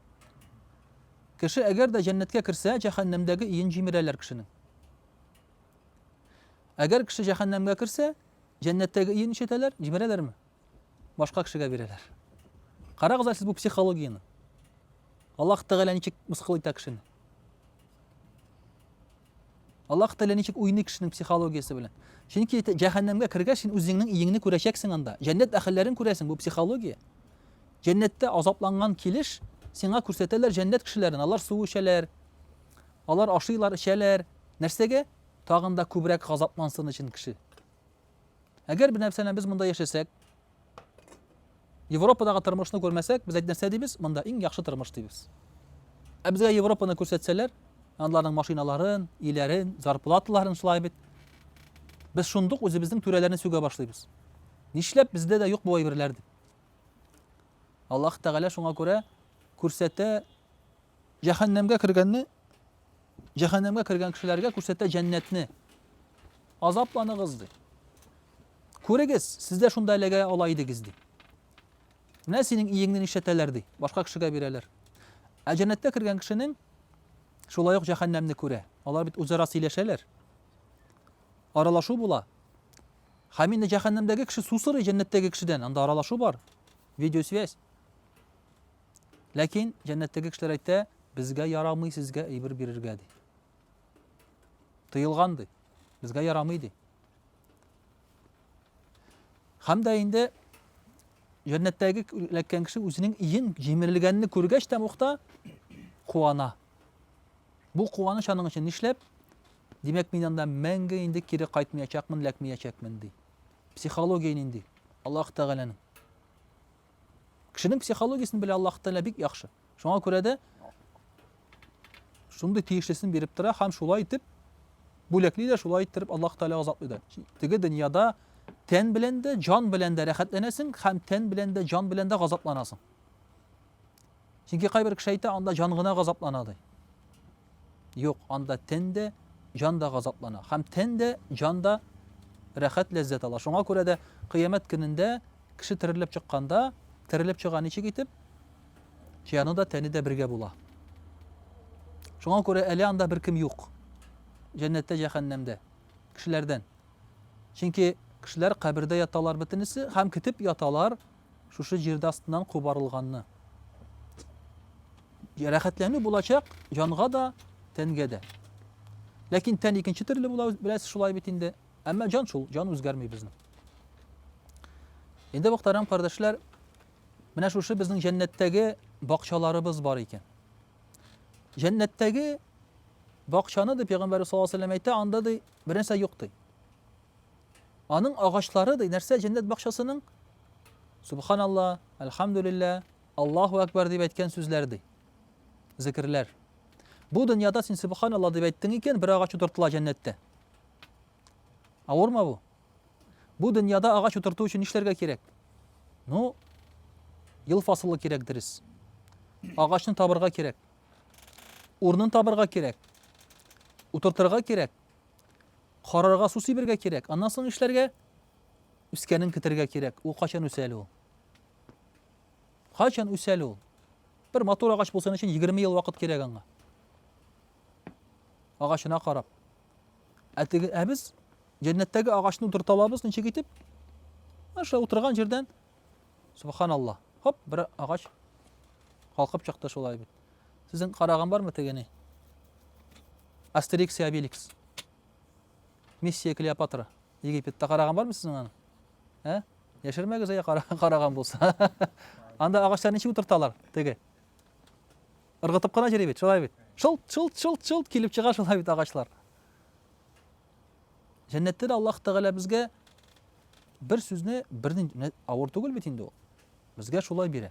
Кеше әгәр дә җәннәткә керсә, җәһәннәмдәге иен җимерәләр кешенең. Әгәр кеше җәһәннәмгә керсә, җәннәттәге иен ишетәләр, җимерәләрме? Башка кешегә бирәләр. Карагыз әле сез бу психологияне. Аллаһ Тәгалә ничек мыскыл итә кешене. Аллаһ Тәгалә ничек уйный кешенең психологиясе белән? Чөнки җәһәннәмгә кергәч, син үзеңнең иеңне күрәчәксең анда. Җәннәт әһелләрен күрәсең, бу психология. Җәннәттә азапланган килеш сиңа күрсәтәләр җәннәт кешеләрен. Алар су эчәләр. Алар ашыйлар, эчәләр. Нәрсәгә? Тагын да күбрәк газаплансын өчен кеше. Әгәр бер нәрсәне без монда яшәсәк, Европадагы тормышны күрмәсәк, без нәрсә дибез? Монда иң яхшы тормыш дибез. Ә безгә Европаны күрсәтсәләр, аларның машиналарын, иләрен, зарплаталарын шулай бит. Без шундук үзебезнең түрәләрне сүгә башлыйбыз. Нишләп бездә дә юк бу әйберләр дип. Аллаһ Тәгалә шуңа күрә күрсәтә, җәһәннәмгә кергәнне Җәһәннәмгә кергән кешеләргә күрсәтә җәннәтне. Азапланыгыз, ди. Күрегез, сез дә шунда эләгә ала идегез, ди. Менә синең иеңне нишләтәләр, ди. Башка кешегә бирәләр. Ә җәннәткә кергән кешенең шулай ук җәһәннәмне күрә. Алар бит үзара сөйләшәләр. Аралашу була. Һәм инде җәһәннәмдәге кеше сусырый җәннәттәге кешедән, анда аралашу бар. Видеосвязь. Ләкин җәннәттәге кешеләр әйтә, безгә ярамый сезгә әйбер бирергә ди. Тыелган ди. Безгә ярамый ди. Һәм дә инде җәннәттәге эләккән кеше үзенең иен җимерелгәнне күргәч тә мохта куана. Бу куаныч аның өчен нишләп? Димәк, мин анда мәңге инде кире кайтмаячакмын, ләкмәячәкмен ди. Психология нинди? Аллаһ Тәгаләнең. Кешенең психологиясен белә Аллаһ Тәгалә бик яхшы. Шуңа күрә дә шундый тиешлесен биреп тора һәм шулай итеп бүләкли дә шулай иттереп Аллаһ Тәгалә азатлый да. Теге дөньяда тән белән дә, җан белән дә рәхәтләнәсең һәм тән белән дә, җан белән дә газапланасың. Чөнки кайбер кеше әйтә, анда җан гына газаплана ди. Юк, анда тен дә, җан да газаплана. Һәм тен дә, җан да рәхәт ләззәт ала. Шуңа күрә дә кыямәт көнендә кеше терелеп чыкканда, терелеп чыга ничек итеп? Җаны да, тәне дә бергә була. Шуңа күрә әле анда бер кем юк. Җәннәттә, җәһәннәмдә кешеләрдән. Чөнки кешеләр кабердә яталар бөтенесе һәм көтеп яталар шушы җирдә астыннан кубарылганны. Рәхәтләнү булачак җанга да, тәнгә дә. Ләкин тән икенче төрле була, беләсез шулай бит инде. Әмма җан шул, җан үзгәрми безнең. Инде мөхтәрәм кардәшләр, менә шушы безнең җәннәттәге бакчаларыбыз бар икән. Җәннәттәге бакчаны дип пәйгамбәр саллаллаһу алейһи әйтә, анда ди бернәрсә юк ди. Аның агачлары ди, нәрсә җәннәт бакчасының? Субханалла, әлхәмдүлиллә, Аллаһу әкбәр дип әйткән сүзләр ди. Зикерләр. Бу дөньяда син субханалла дип әйттең икән, бер агач утыртыла җәннәттә. Авырмы бу? Бу дөньяда агач утырту өчен нишләргә кирәк? Ну, ел фасылы кирәк дөрес. Агачны табырга кирәк. Урнын табырга кирәк. Утыртырга кирәк. Карарга су сибергә кирәк. Аннан соң нишләргә? Үскәнен көтергә кирәк. Ул качан үсә әле ул? Качан үсә әле ул? Бер матур агач булсын өчен 20 ел вакыт кирәк аңа. Агачына карап. Ә теге ә без җәннәттәге агачны утырта алабыз ничек итеп? Аша утырган җирдән субханалла. Хоп, бер агач калкып чыкты шулай бит. Сезнең караган бармы тегене? Астерикс и Обеликс. Миссия Клеопатра. Египетта караган бармы сезнең аны? Ә? Яшермәгез әйе караган булса. Анда агачлар ничек утырталар теге? Ыргытып кына йөри бит, шулай бит. Шылт, шылт, шылт, шылт килеп чыга шулай бит агачлар. Җәннәттә дә Аллаһ Тәгалә безгә бер сүзне бернинди авыр түгел бит инде ул. Безгә шулай бирә.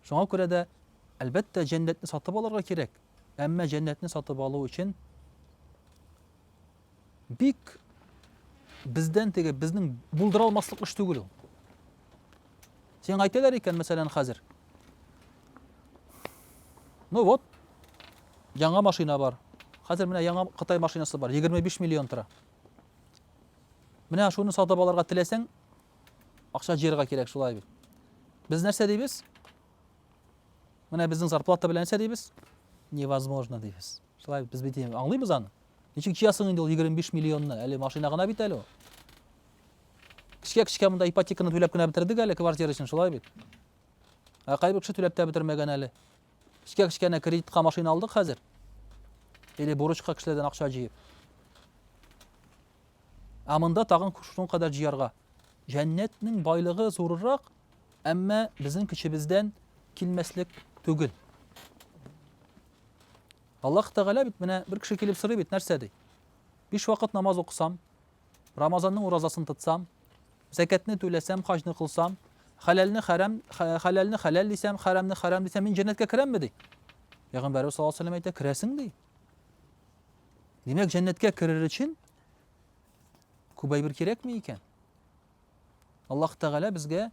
Шуңа күрә дә, әлбәттә, җәннәтне сатып алырга кирәк. Әмма җәннәтне сатып алу өчен бик бездән теге безнең булдыра алмаслык эш түгел ул. Сиңа әйтәләр икән, мәсәлән, хәзер. Ну вот, яңа машина бар. Хәзер менә яңа Кытай машинасы бар, 25 миллион тора. Менә шуны сатып алырга теләсәң, Акча җыярга кирәк шулай бит. Без нәрсә дибез? Менә безнең зарплата белән нәрсә дибез? Невозможно дибез. Шулай без бит аңлыйбыз аны. Ничек җыясың инде ул 25 миллионны? Әле машина гына бит әле ул. Кичкә-кичкә монда ипотеканы түләп кенә бетердек әле квартира өчен, шулай бит. Ә кайбер кеше түләп тә бетермәгән әле. Кичкә-кичкә әнә кредитка машина алдык хәзер. Или бурычка кешеләрдән акча җыеп. Ә монда тагын шуның кадәр җыярга. Җәннәтнең байлыгы зурырак, әмма безнең көчебездән килмәслек түгел. Аллаһ Тәгалә бит менә бер кеше килеп сорый бит, нәрсә ди? Биш вакыт намаз укысам, Рамазанның уразасын тотсам, зәкәтне түләсәм, хаҗны кылсам, хәләлне хәрам, хәләлне хәләл дисәм, хәрәмне хәрам дисәм, мин җәннәткә керәмме ди? Пәйгамбәрбез саллаллаһу алейһи ва сәлләм әйтә, керәсең ди. Димәк, җәннәткә керер өчен күбәй бер кирәкме икән? Аллаһ Тәгалә безгә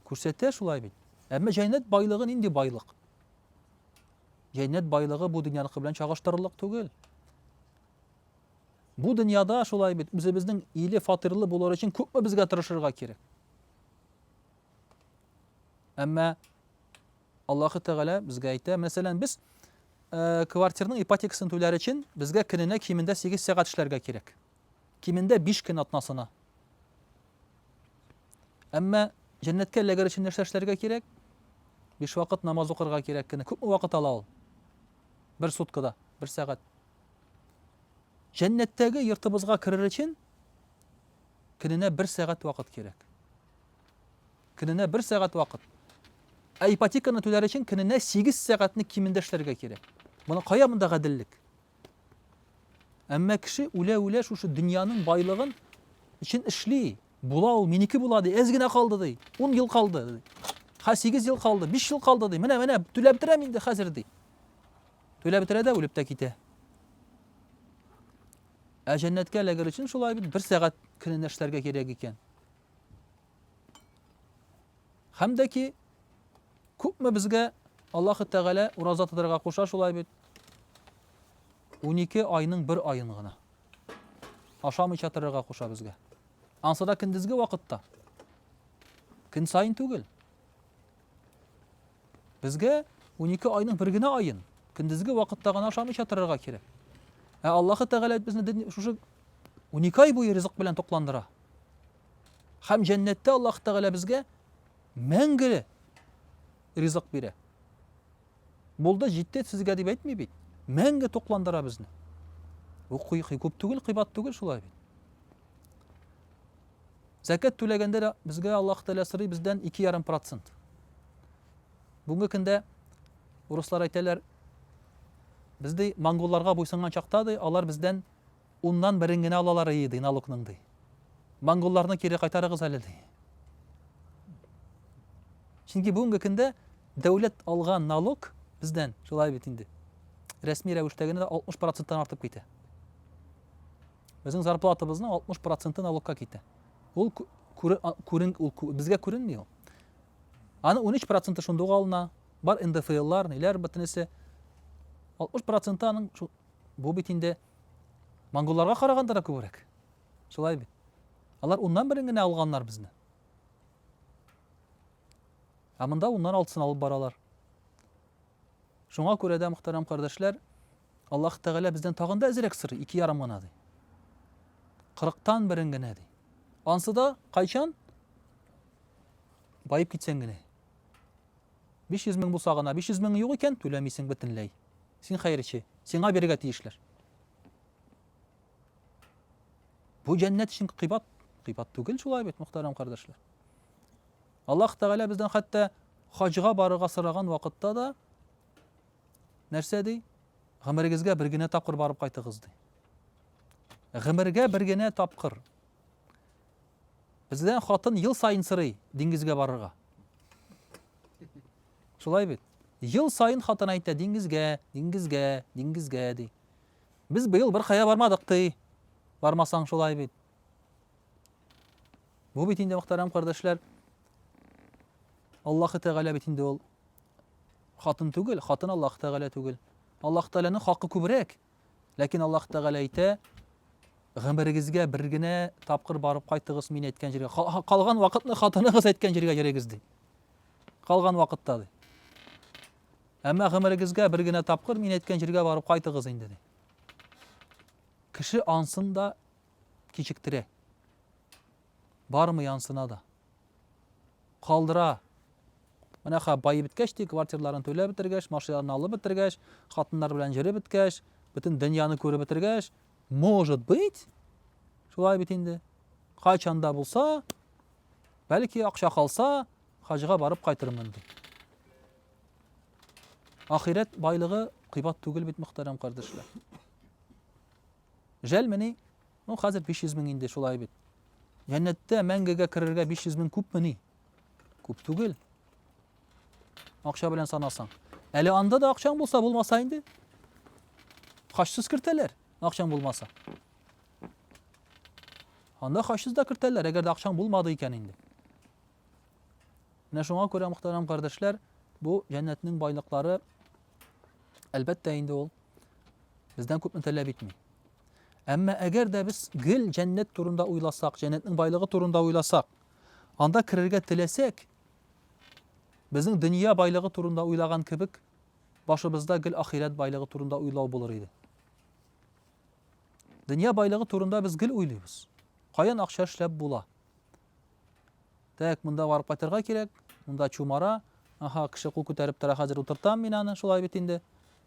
күрсәтә шулай бит. Әмма җәннәт байлыгы нинди байлык? Җәннәт байлыгы бу дөньяныкы белән чагыштырырлык түгел. Бу дөньяда шулай бит, үзебезнең иле фатирлы булыр өчен күпме безгә тырышырга кирәк? Әмма Аллаһы Тәгалә безгә әйтә, мәсәлән, без э, квартирның ипотекасын түләр өчен безгә көненә кимендә 8 сәгать эшләргә кирәк. Кимендә 5 көн атнасына. Әмма җәннәткә эләгер өчен нәрсә эшләргә кирәк? Биш вакыт намаз укырга кирәк кенә. Күпме вакыт ала ул? Бер суткада, бер сәгать. Җәннәттәге йортыбызга керер өчен көненә бер сәгать вакыт кирәк. Көненә бер сәгать вакыт. Ә ипотеканы түләр өчен көненә 8 сәгатьне кимендә эшләргә кирәк. Моны кая монда гаделлек? Әмма кеше үлә-үлә шушы дөньяның байлыгын өчен эшли. Була ул, минеке була ди, әз генә калды ди, 10 ел калды ди. Ха 8 ел калды, 5 ел калды ди. Менә, менә түләп бетерәм инде хәзер ди. Түләп бетерә дә үлеп тә китә. Ә җәннәткә эләгер өчен шулай бит, бер сәгать көненә эшләргә кирәк икән. Һәм дә ки, күпме безгә Аллаһы Тәгалә ураза тотарга куша шулай бит. 12 айның бер айын гына ашамыйча торырга куша безгә. Ансада көндезге вакытта. Көн сайын түгел. Безгә унике айның бер генә аен көндезге вакытта гына ашамыйча торырга кирәк. Ә Аллаһы Тәгалә безне шушы унике ай буе ризык белән тукландыра. Һәм җәннәттә Аллаһ Тәгалә безгә мәңге ризык бирә. Булды, җитте сезгә дип әйтми бит. Мәңге тукландыра безне. Бу күп түгел, кыйбат түгел шулай бит. Зәкят түләгәндә дә безгә Аллаһ Тәгалә сорый бездән ике ярым процент. Бүгенге көндә урыслар әйтәләр, без ди монголларга буйсынган чакта ди, алар бездән уннан берен генә алалар ие ди налогның ди. Монголларны кире кайтарыгыз әле ди. Чөнки бүгенге көндә дәүләт алган налог бездән шулай бит инде. Рәсми рәвештә генә 60 проценттан артып китә. Безнең зарплатабызның 60 проценты налогка китә. Ул күрен, ул безгә күренми ул. Аны 13 проценты шунда ук алына, бар НДФЛлар, ниләр бөтенесе. 60 проценты аның бу бит инде монголларга караганда да күбрәк. Шулай бит. Алар уннан берен генә алганнар безне. Ә монда уннан алтысын алып баралар. Шуңа күрә дә, мөхтәрәм кардәшләр, Аллаһ Тәгалә бездән тагын да әзрәк сорый, ике ярым гына, ди. Кырыктан берең генә, ди. Ансы да кайчан? Баеп китсәң генә. 500 мең булса гына, 500 мең юк икән, түләмисең бөтенләй. Син хәерче, сиңа бирергә тиешләр. Бу җәннәт өчен кыйбат, кыйбат түгел шулай бит, мөхтәрәм кардәшләр. Аллаһ Тәгалә бездән хәтта хаҗга барырга сораган вакытта да нәрсә ди? Гомерегезгә бер генә тапкыр барып кайтыгыз ди. Гомергә бер генә тапкыр. Бездән хатын ел саен сорый диңгезгә барырга. Шулай бит. Ел саен хатын әйтә диңгезгә, диңгезгә, диңгезгә ди. Без быел бер кая бармадык ди. Бармасаң шулай бит. Бу бит инде, мөхтәрәм кардәшләр, Аллаһы Тәгалә бит инде ул хатын түгел, хатын Аллаһы Тәгалә түгел. Аллаһы Тәгаләнең хакы күбрәк. Ләкин Аллаһы Тәгалә әйтә, гомерегезгә бер генә тапкыр барып кайтыгыз мин әйткән җиргә. Калган вакытны хатыныгыз әйткән җиргә йөрегез ди. Калган вакытта ди. Әмма гомерегезгә бер генә тапкыр мин әйткән җиргә барып кайтыгыз инде ди. Кеше ансын да кичектерә. Бармый ансына да. Калдыра. Менә ха байып беткәч ди, квартирларын түләп бетергәч, машиналарын алып бетергәч, хатыннар белән җөреп беткәч, бөтен дөньяны күреп бетергәч, может быть, шулай бит инде. Кайчан да булса, бәлки акча калса, хаҗга барып кайтырмын ди. Ахирәт байлыгы кыйбат түгел бит, мөхтәрәм кардәшләр. Жәлмени? Ну, хәзер 500 мең инде, шулай бит. Җәннәттә мәңгегә керергә 500 мең күпмени? Күп түгел. Акча белән санасаң. Әле анда да акчаң булса, булмаса инде. Хачсыз кертәләр, акчаң булмаса. Анда хачсыз да кертәләр, әгәр дә акчаң булмады икән инде. Менә шуңа күрә, мөхтәрәм кардәшләр, бу җәннәтнең байлыклары, әлбәттә инде ул Бездән күпне таләп итми. Әмма әгәр дә без гел җәннәт турында уйласак, җәннәтнең байлыгы турында уйласак, анда керергә теләсәк, безнең дөнья байлыгы турында уйлаган кебек, башыбызда гел ахирәт байлыгы турында уйлау булыр иде. Дөнья байлыгы турында без гел уйлыйбыз. Каян акча эшләп була? Так, монда барып кайтырга кирәк, монда чумара, аха, кеше кул күтәреп тора, хәзер утыртам мин аны, шулай бит инде.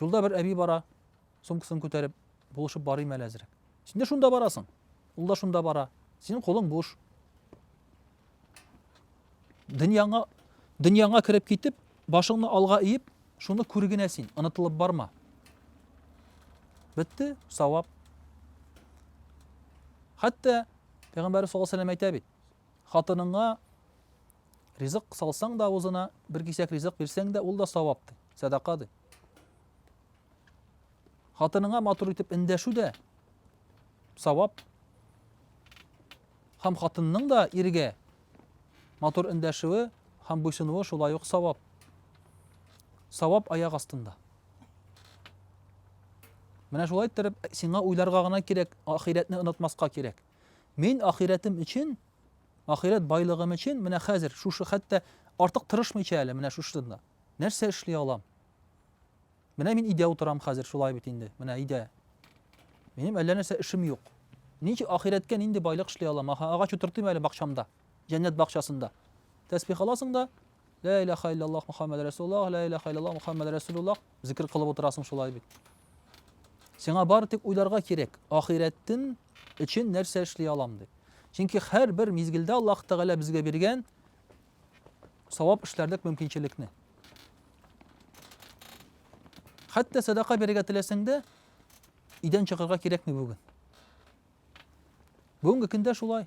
Юлда бер әби бара, сумкасын күтәреп, булышып барыйм әле әзрәк. Син дә шунда барасың. Ул да шунда бара. Синең кулың буш. Дөньяңа дөньяңа кереп китеп, башыңны алга иеп, шуны күр генә син, онытылып барма. Бетте, савап. Хәтта Пәйгамбәрбез саллаллаһу алейһи ва сәлләм әйтә бит, Хатыныңа ризык салсаң да авызына, бер кисәк ризык бирсәң дә, ул да савап ди, сәдака ди. Хатыныңа матур итеп эндәшү дә савап. Һәм хатынның да иргә матур эндәшүе һәм буйсынуы шулай ук савап. Савап аяк астында. Менә шулай иттереп, сиңа уйларга гына кирәк, ахирәтне онытмаска кирәк. Мин ахирәтем өчен, ахирәт байлыгым өчен менә хәзер шушы хәтта артык тырышмыйча әле менә шушында нәрсә эшли алам? Менә мин өйдә утырам хәзер, шулай бит инде. Менә өйдә. Минем әллә нәрсә эшем юк. Ничек ахирәткә нинди байлык эшли алам? Аха, агач утыртыйм әле бакчамда, җәннәт бакчасында. Тәсбих аласың да, Лә иләха илляллах Мөхәммәд рәсулуллаһ, лә иләха илляллах Мөхәммәд рәсулуллаһ, зикер кылып утырасың шулай бит. Сиңа бары тик уйларга кирәк, ахирәттен өчен нәрсә эшли алам дип. Чөнки һәрбер мизгелдә Аллаһ Тәгалә безгә биргән савап эшләрлек мөмкинчелекне. Хәтта садака бирергә теләсәң дә, идән чыгарга кирәкми бүген. Бүгенге көндә шулай.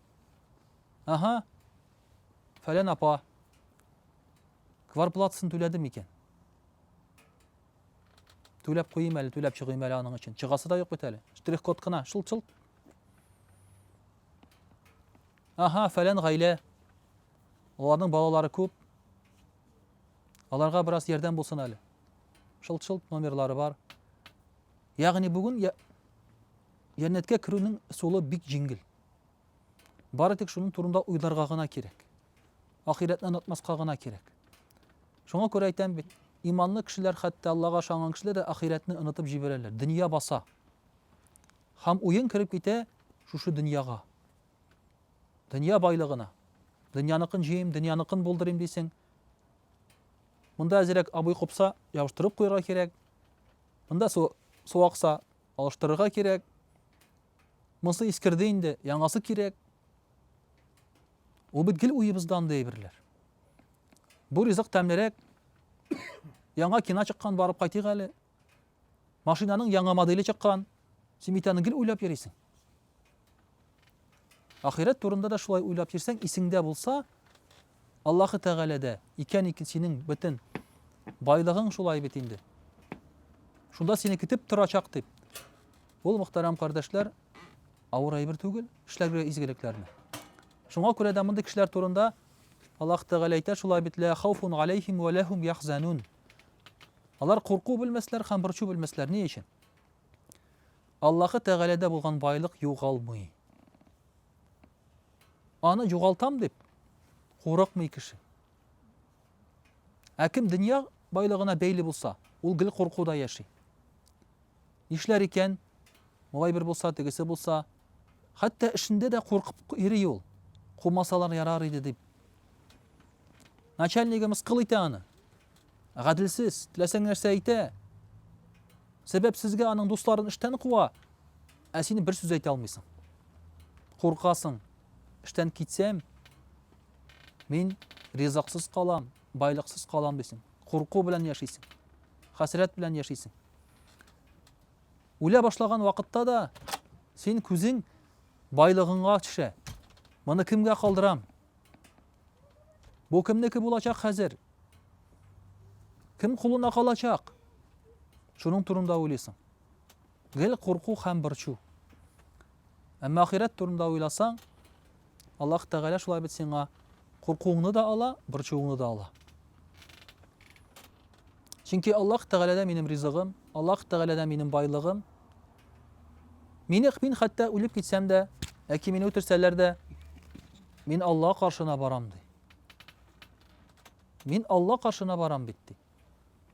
Аһа. Фәлән апа. Кварплатасын түләде микән? Түләп куйым әле, түләп чыгыйм әле аның өчен. Чыгасы да юк бит әле. Штрих-код кына, шылт-шылт. Аһа, фәлән гаилә. Аларның балалары күп. Аларга бераз ярдәм булсын әле. Шылт-шылт номерлары бар. Ягъни бүген Янәткә керүнең сулы бик җиңел. Бары тик шуның турында уйларга гына кирәк. Ахирәтне онытмаска гына кирәк. Шуңа күрә әйтәм бит, иманлы кешеләр, хәтта Аллага ышанган кешеләр дә ахирәтне онытып җибәрәләр. Дөнья баса. Һәм уен кереп китә шушы дөньяга. Дөнья байлыгына. Дөньяныкын җыйм, дөньяныкын булдырыйм дисең. Монда әзерәк абый купса, ябыштырып куярга кирәк. Монда су, су акса, алыштырырга кирәк. Монысы искерде инде, яңасы кирәк. Ул бит гел уебызда андый әйберләр. Бу ризык тәмлерәк. Яңа кина чыккан, барып кайтыйк әле. Машинаның яңа модели чыккан. Син бит аны гел уйлап йөрисең. Ахирәт турында да шулай уйлап йөрсәң, исеңдә булса, Аллаһы Тәгаләдә икән икн синең бөтен байлыгың шулай бит инде. Шунда сине көтеп торачак дип. Ул мөхтәрәм кардәшләр авыр әйбер түгел, эшләргә изгелекләрне. Шуңа күрә дә мондый кешеләр турында Аллаһ Тәгалә әйтә шулай бит лә хауфун алейхим ва лахум яхзанун. Алар курку белмәсләр һәм борчу белмәсләр ни өчен? Аллаһы Тәгаләдә булган байлык югалмый. Аны югалтам дип курыкмый кеше. Ә кем дөнья байлыгына бәйле булса, ул гел куркуда яши. Нишләр икән? Малай бер булса, тегесе булса, хәтта эшендә дә куркып йөри ул. Кумасалар ярар иде дип. Начальнигы мыскыл итә аны. Гаделсез, теләсәң нәрсә әйтә. Сәбәпсезгә аның дусларын эштән куа. Ә син бер сүз әйтә алмыйсың. Куркасың, эштән китсәм, мин ризыксыз калам, байлыксыз калам дисең. Курку белән яшисең. Хәсрәт белән яшисең. Үлә башлаган вакытта да син күзең байлыгыңга төшә. Моны кемгә калдырам? Бу кемнеке булачак хәзер? Кем кулына калачак? Шуның турында уйлыйсың. Гел курку һәм борчу. Әмма ахирәт турында уйласаң, Аллаһ Тәгалә шулай бит сиңа куркуыңны да ала, борчуыңны да ала. Чөнки Аллаһ Тәгаләдә минем ризыгым, Аллаһ Тәгаләдә минем байлыгым. Мине мин хәтта үлеп китсәм дә, яки мине үтерсәләр дә, мин Аллаһ каршына барам ди. Мин Аллаһ каршына барам бит ди.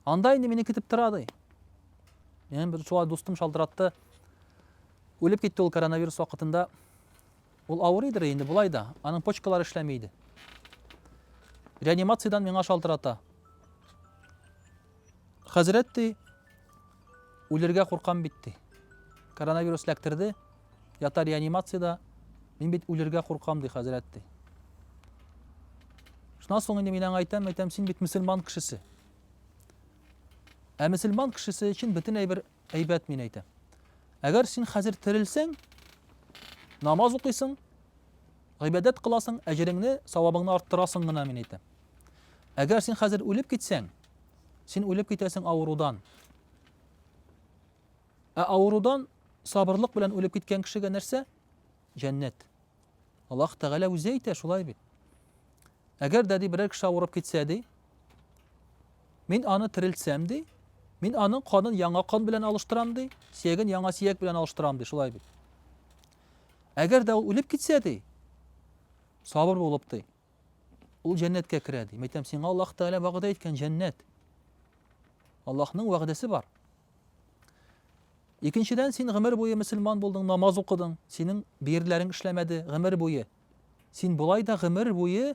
Анда инде мине көтеп тора, ди. Минем бер шулай дустым шалтыратты. Үлеп китте ул коронавирус вакытында. Ул авыр иде инде болай да. Аның почкалары эшләми иде. Реанимациядән миңа шалтырата. Хәзрәт ди, үлергә куркам бит ди. Коронавирус ләктерде, Ята реанимациядә, мин бит үлергә куркам, ди хәзрәт, ди. Шуннан соң инде мин аңа әйтәм, әйтәм, син бит мөселман кешесе. Ә мөселман кешесе өчен бөтен әйбер әйбәт мин әйтәм. Әгәр син хәзер терелсәң, намаз укыйсың, гыйбадәт кыласың, әҗереңне, савабыңны арттырасың гына мин әйтәм. Әгәр син хәзер үлеп китсәң, син үлеп китәсең авырудан. Ә авырудан сабырлык белән үлеп киткән кешегә нәрсә? Җәннәт. Аллаһ Тәгалә үзе әйтә, шулай бит. Әгәр дә ди берәр кеше авырып китсә ди, мин аны терелтсәм ди, мин аның канын яңа кан белән алыштырам ди, сияген яңа сияк белән алыштырам ди, шулай бит. Әгәр дә ул үлеп китсә ди, сабыр булып ди, Ул җәннәткә керә, ди. Мәйтәм, сиңа Аллаһ Тәгалә вәгъдә иткән җәннәт. Аллаһның вәгъдәсе бар. Икенчедән, син гомер буе мөселман булдың, намаз укыдың, синең берләрең эшләмәде гомер буе. Син болай да гомер буе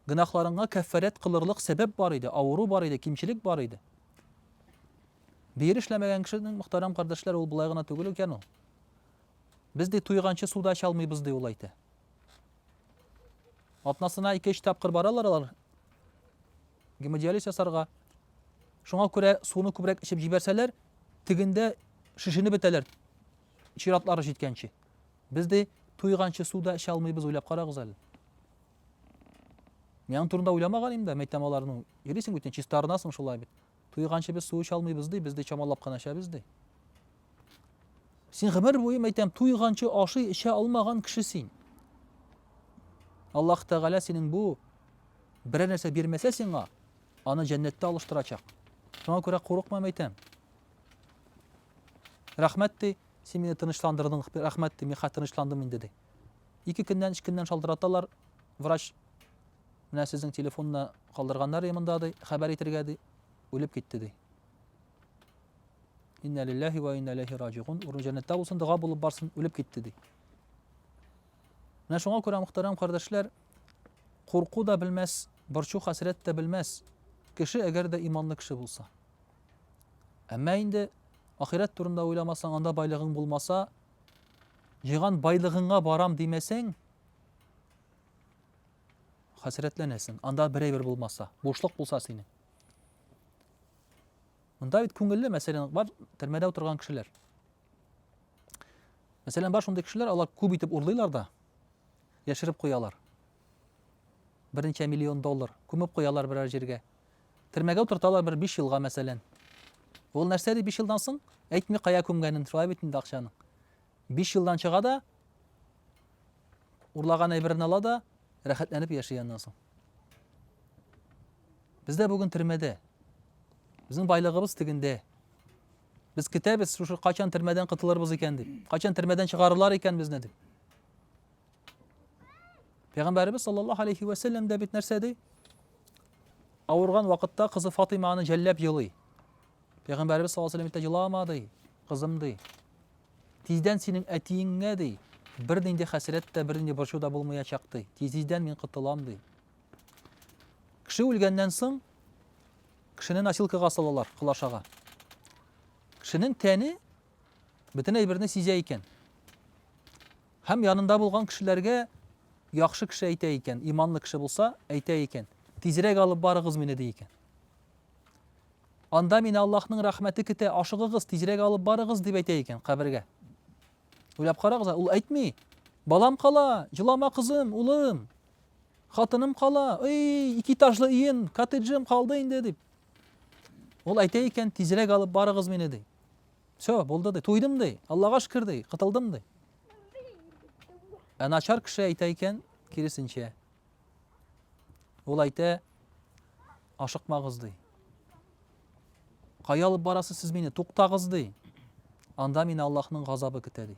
гөнаһларыңа кәффәрәт кылырлык сәбәп бар иде, авыру бар иде, кимчелек бар иде. Бер эшләмәгән кешенең, мөхтәрәм кардәшләр, ул болай гына түгел икән ул. Без, ди, туйганчы су да эчә алмыйбыз, ди, ул әйтә. Атнасына ике-өч тапкыр баралар алар гемодиализ ясарга. Шуңа күрә суны күбрәк эчеп җибәрсәләр, тегендә шешенеп бетәләр чиратлары җиткәнче. Без, ди, туйганчы су да эчә алмыйбыз, уйлап карагыз әле. Мин аның турында уйламаган инде, мәйтәм аларның. Йөрисең бит, чиста арынасың шулай бит. Туйганчы без су эчалмыйбыз ди, без ди чамалап кына эчәбез ди. Син гомер буе әйтәм, туйганчы ашый эчә алмаган кеше син. Аллаһ Тәгалә синең бу берәр нәрсә бирмәсә сиңа, аны җәннәттә алыштырачак. Шуңа күрә курыкмам әйтәм. Рәхмәт ди, син мине тынычландырдың, рәхмәт ди, мин хәтер тынычландым инде ди. Ике көннән, өч көннән шалтыраталар, врач Менә сезнең телефонны калдырганнар, ди, монда, ди, хәбәр итергә, ди. Үлеп китте, ди. Инна лилләһи вә инна иләйһи раҗигун. Урын җәннәттә булсын, дога булып барсын, үлеп китте, ди. Менә шуңа күрә, мөхтәрәм кардәшләр, курку да белмәс, борчу хәсрәт тә белмәс кеше, әгәр дә иманлы кеше булса. Әмма инде ахирәт турында уйламасаң, анда байлыгың булмаса, җыйган байлыгыңа барам димәсәң, Хәсрәтләнәсең. Анда бер әйбер булмаса, бушлык булса синең. Монда бит күңелле, мәсәлән, бар төрмәдә утырган кешеләр. Мәсәлән, бар шундый кешеләр, алар күп итеп урлыйлар да, яшереп куялар. Берничә миллион доллар күмеп куялар берәр җиргә. Төрмәгә утырталар бер 5 елга, мәсәлән. Ул нәрсә ди 5 елдан соң? Әйтми кая күмгәнен, шулай бит инде акчаны. Биш елдан чыга да, урлаган әйберен ала да, рәхәтләнеп яши аннан соң. Без дә бүген төрмәдә. Безнең байлыгыбыз тегендә. Без көтәбез, шушы качан төрмәдән котылырбыз икән дип. Качан төрмәдән чыгарырлар икән безне дип. Пәйгамбәребез саллаллаһу алейхи ва саллям да бит нәрсә ди? Авырган вакытта кызы Фатима аны жәлләп елый. Пәйгамбәребез саллаллаһу алейхи ва саллям итә җыламады, кызым ди. Тиздән синең әтиеңә, ди, бернинди хәсрәт тә, бернинди борчу да булмаячак, ди. Тиз-тиздән мин котылам, ди. Кеше үлгәннән соң, кешене носилкага салалар, колашага. Кешенең тәне бөтен әйберне сизә икән. Һәм янында булган кешеләргә яхшы кеше әйтә икән, иманлы кеше булса, әйтә икән. Тизрәк алып барыгыз мине, ди икән. Анда мине Аллаһның рәхмәте көтә, ашыгыгыз, тизрәк алып барыгыз, дип әйтә икән кабергә. Уйлап карагыз, ул әйтми. Балам кала, җылама кызым, улым. Хатыным кала, эй, ике этажлы өем, коттеджым калды инде, дип. Ул әйтә икән, тизрәк алып барыгыз мине, ди. Все, булды, ди. Туйдым, ди. Аллага шөкер, ди. Кытылдым, ди. Ә начар кеше әйтә икән, киресенчә. Ул әйтә, Ашыкмагыз, ди. Кая алып барасыз сез мине? Туктагыз, ди. Анда мине Аллаһның газабы көтә, ди.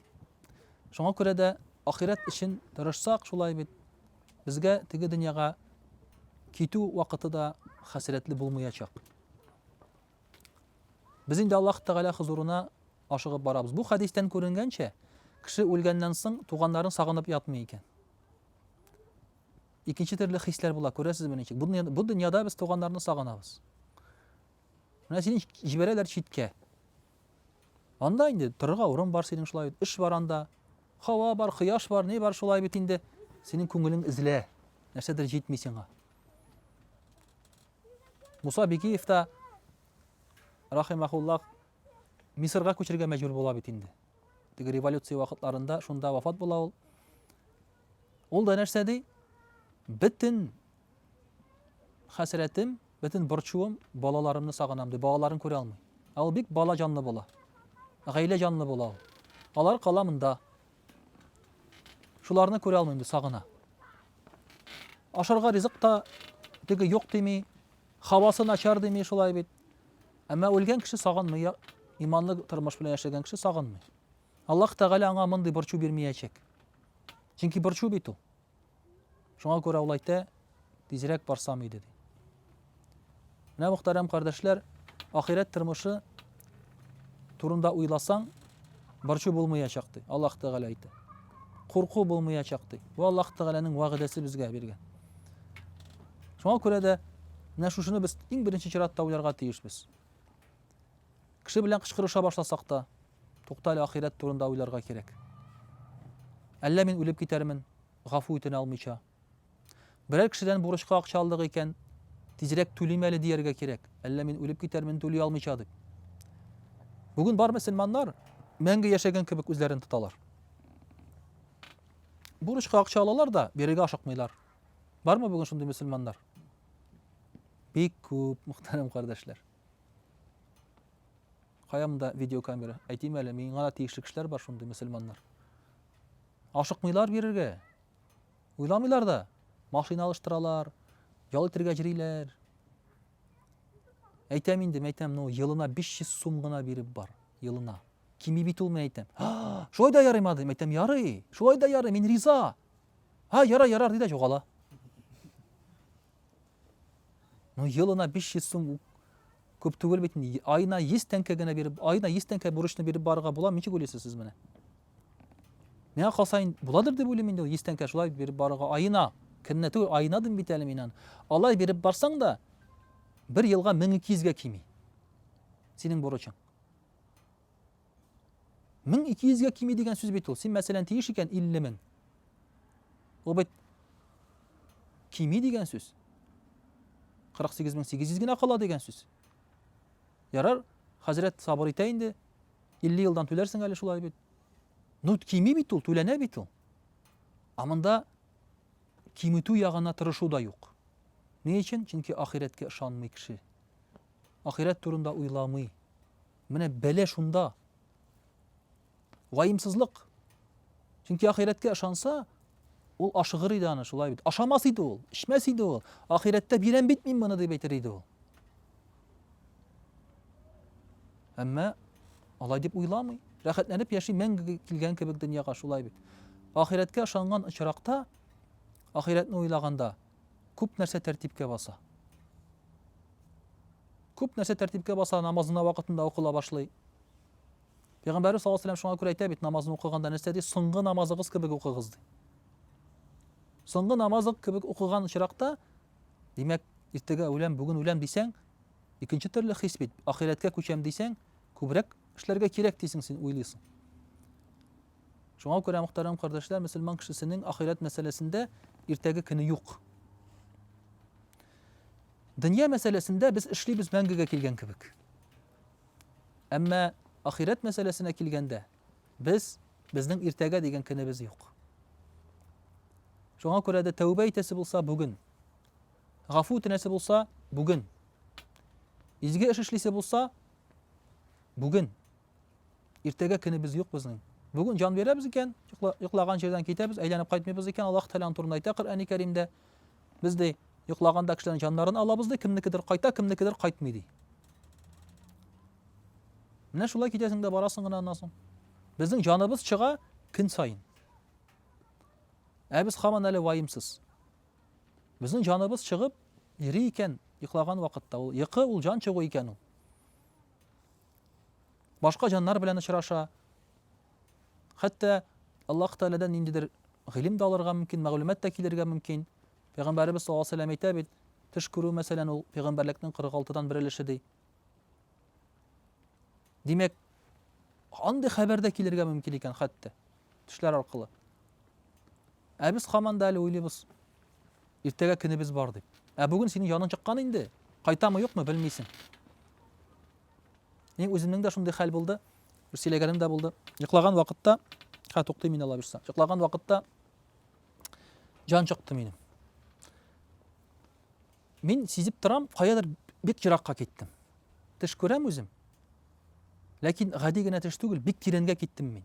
Шуңа күрә дә ахирәт өчен тырышсак, шулай бит, безгә теге дөньяга китү вакыты да хәсрәтле булмаячак. Без инде Аллаһ Тәгалә хозурына ашыгып барабыз. Бу хәдистән күренгәнчә, кеше үлгәннән соң туганнарын сагынып ятмый икән. Икенче төрле хисләр була, күрәсезме ничек? Бу дөньяда, бу дөньяда без туганнарны сагынабыз. Менә сине җибәрәләр читкә. Анда инде торырга урын бар синең шулай бит, эш бар анда. Хава бар, кояш бар, ни бар шулай бит инде. Синең күңелең эзлә. Нәрсәдер җитми сиңа. Муса Бикиев та рахимахуллах Мисырга күчергә мәҗбүр була бит инде. Теге революция вакытларында шунда вафат була ул. Ул да нәрсә ди? Бөтен хәсрәтем, бөтен борчуым балаларымны сагынам ди. Балаларын күрә алмый. Ә ул бик бала җанлы була. Гаилә җанлы була ул. Алар кала монда. Шуларны күрә алмыйм ди, сагына. Ашарга ризык та теге юк дими, хавасы начар дими шулай бит. Әмма үлгән кеше сагынмый, иманлы тормыш белән яшәгән кеше сагынмый. Аллаһ Тәгалә аңа мондый борчу бирмиячәк. Чөнки борчу бит ул. Шуңа күрә ул әйтә, тизрәк барсам иде ди. Менә мөхтәрәм кардәшләр, ахирәт тормышы турында уйласаң, борчу булмаячак ди. Аллаһ Тәгалә әйтә. Курку булмаячак ди. Бу Аллаһ Тәгаләнең вәгъдәсе безгә биргән. Шуңа күрә дә менә шушыны без иң беренче чиратта уйларга тиешбез. Кеше белән кычкырыша башласак та, тукта әле ахирәт турында уйларга кирәк. Әллә мин үлеп китәрмен, гафу үтенә алмыйча. Берәр кешедән бурычка акча алдык икән, тизрәк түлим әле дияргә кирәк, әллә мин үлеп китәрмен түли алмыйча дип. Бүген бар мөселманнар мәңге яшәгән кебек үзләрен тоталар. Бурычка акча алалар да, бирергә ашыкмыйлар. Бармы бүген шундый мөселманнар? Бик күп, мөхтәрәм кардәшләр. Кая монда видеокамера? Әйтим әле, миңа да тиешле кешеләр бар шундый мөселманнар. Ашыкмыйлар бирергә. Уйламыйлар да. Машина алыштыралар, ял итергә җриләр. Әйтәм инде, мәйтәм, ну, елына 500 сум гына биреп бар. Елына. Кими бит ул, мәйтәм. Ха, шулай да ярыйма, дим, мәйтәм, ярый. Шулай да ярый, мин риза. Ха, яра, яра, диде, югала. Ну, елына 500 сум күп түгел бит. Айына 100 тәңкә генә биреп, айына 100 тәңкә бурычны биреп барырга була, ничек уйлыйсыз сез менә? Миңа калса, буладыр дип уйлыйм инде, 100 тәңкә шулай биреп барырга айына. Көненә түгел, айына дим бит әле мин аны. Алай биреп барсаң да, бер елга 1200 гә кими. Синең бурычың. Мең ике йөзгә кими дигән сүз бит ул. Син, мәсәлән, тиеш икән илле мең. Ул бит кими дигән сүз. 48800 генә кала дигән сүз. Ярар, хәзрәт сабыр итә инде. 50 елдан түләрсең әле шулай бит. Ну, кими бит ул, түләнә бит ул. Ә монда киметү ягына тырышу да юк. Ни өчен? Чөнки ахирәткә ышанмый кеше. Ахирәт турында уйламый. Менә бәлә шунда. Ваемсызлык. Чөнки ахирәткә ышанса, ул ашыгыр иде аны, шулай бит. Ашамас иде ул, эчмәс иде ул. Ахирәттә бирәм бит мин моны дип әйтер иде ул. Әмма алай дип уйламый. Рәхәтләнеп яши, мәңге килгән кебек дөньяга шулай бит. Ахирәткә ышанган очракта, ахирәтне уйлаганда, Күп нәрсә тәртипкә баса. Күп нәрсә тәртипкә баса, намазына вакытында укыла башлый. Пәйгамбәрбез саллаллаһу алейһи ва сәлләм шуңа күрә әйтә бит, намазны укыганда нәрсә ди? Соңгы намазыгыз кебек укыгыз ди. Соңгы намазык кебек укыган очракта, димәк, иртәгә үләм, бүген үләм дисәң, икенче төрле хис бит. Ахирәткә күчәм дисәң, күбрәк эшләргә кирәк дисең син, уйлыйсың. Шуңа күрә, мөхтәрәм кардәшләр, мөселман кешесенең ахирәт мәсьәләсендә иртәге көне юк. Дөнья мәсьәләсендә без эшлибез мәңгегә килгән кебек. Әмма ахирәт мәсьәләсенә килгәндә, без безнең иртәгә дигән көнебез юк. Шуңа күрә дә тәүбә итәсе булса бүген, гафу үтенәсе булса бүген, изге эш эшлисе булса бүген. Иртәгә көнебез юк безнең. Бүген җан бирәбез икән, йоклаган җирдән китәбез, әйләнеп кайтмыйбыз икән, Аллаһ Тәгалә турында әйтә Коръәни Кәримдә. Без ди, йоклаганда кешеләрнең җаннарын алабыз ди, кемнекедер кайта, кемнекедер кайтмый ди. Менә шулай китәсең дә барасың гына аннан соң. Безнең җаныбыз чыга көн саен. Ә без хаман әле ваемсыз. Безнең җаныбыз чыгып йөри икән йоклаган вакытта. Ул йокы, ул җан чыгу икән ул. Башка җаннар белән очраша. Хәтта Аллаһ Тәгаләдән ниндидер гыйлем дә алырга мөмкин, мәгълүмат та килергә мөмкин. Пәйгамбәребез саллаллаһу алейһи ва сәлләм әйтә бит, төш күрү, мәсәлән, ул пәйгамбәрлекнең 46-дан бер өлеше ди. Димәк, андый хәбәр дә килергә мөмкин икән хәтта. Төшләр аркылы. Ә без хаман да әле уйлыйбыз. Иртәгә көнебез бар дип. Ә бүген синең яның чыккан инде. Кайтамы юкмы белмисең. Мин үземнең дә шундый хәл булды. Бер сөйләгәнем дә булды. Йоклаган вакытта, хә туктый мин ала бирсә. Йоклаган вакытта җан чыкты минем. Мин сизеп торам, каядыр бик еракка киттем. Төш күрәм үзем. Ләкин гади генә төш түгел, бик тирәнгә киттем мин.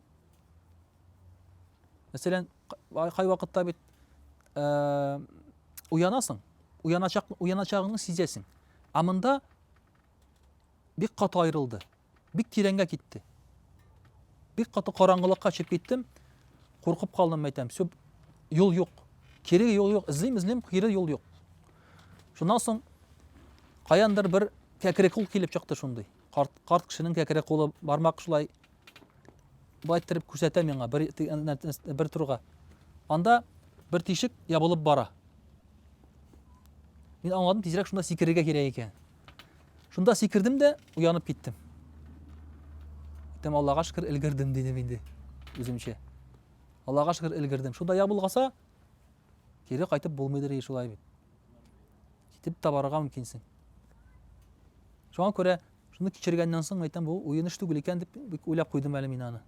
Мәсәлән, кай вакытта бит э, уянасың, уяначак, уяначагыңны сизәсең. Ә монда бик каты аерылды. Бик тирәнгә китте. Бик каты караңгылыкка төшеп киттем. Куркып калдым, мәйтәм. Сөп, юл юк. Кире юл юк. Эзлим, эзлим, кире юл юк. Шуннан соң каяндыр бер кәкре кул килеп чыкты шундый. Карт, карт кешенең кәкре кулы бармак шулай былай иттереп күрсәтә миңа бер, бер турга. Анда бер тишек ябылып бара. Мин аңладым, тизрәк шунда сикерергә кирәк икән. Шунда сикердем дә, уянып киттем. Әйтәм, Аллага шөкер, өлгердем, дидем инде үземчә. Аллага шөкер, өлгердем. Шунда я булгаса, кире кайтып булмыйдыр и шулай бит. Китеп тә барырга мөмкинсең. Шуңа күрә шуны кичергәннән соң әйтәм, бу уен эш түгел икән дип бик уйлап куйдым әле мин аны.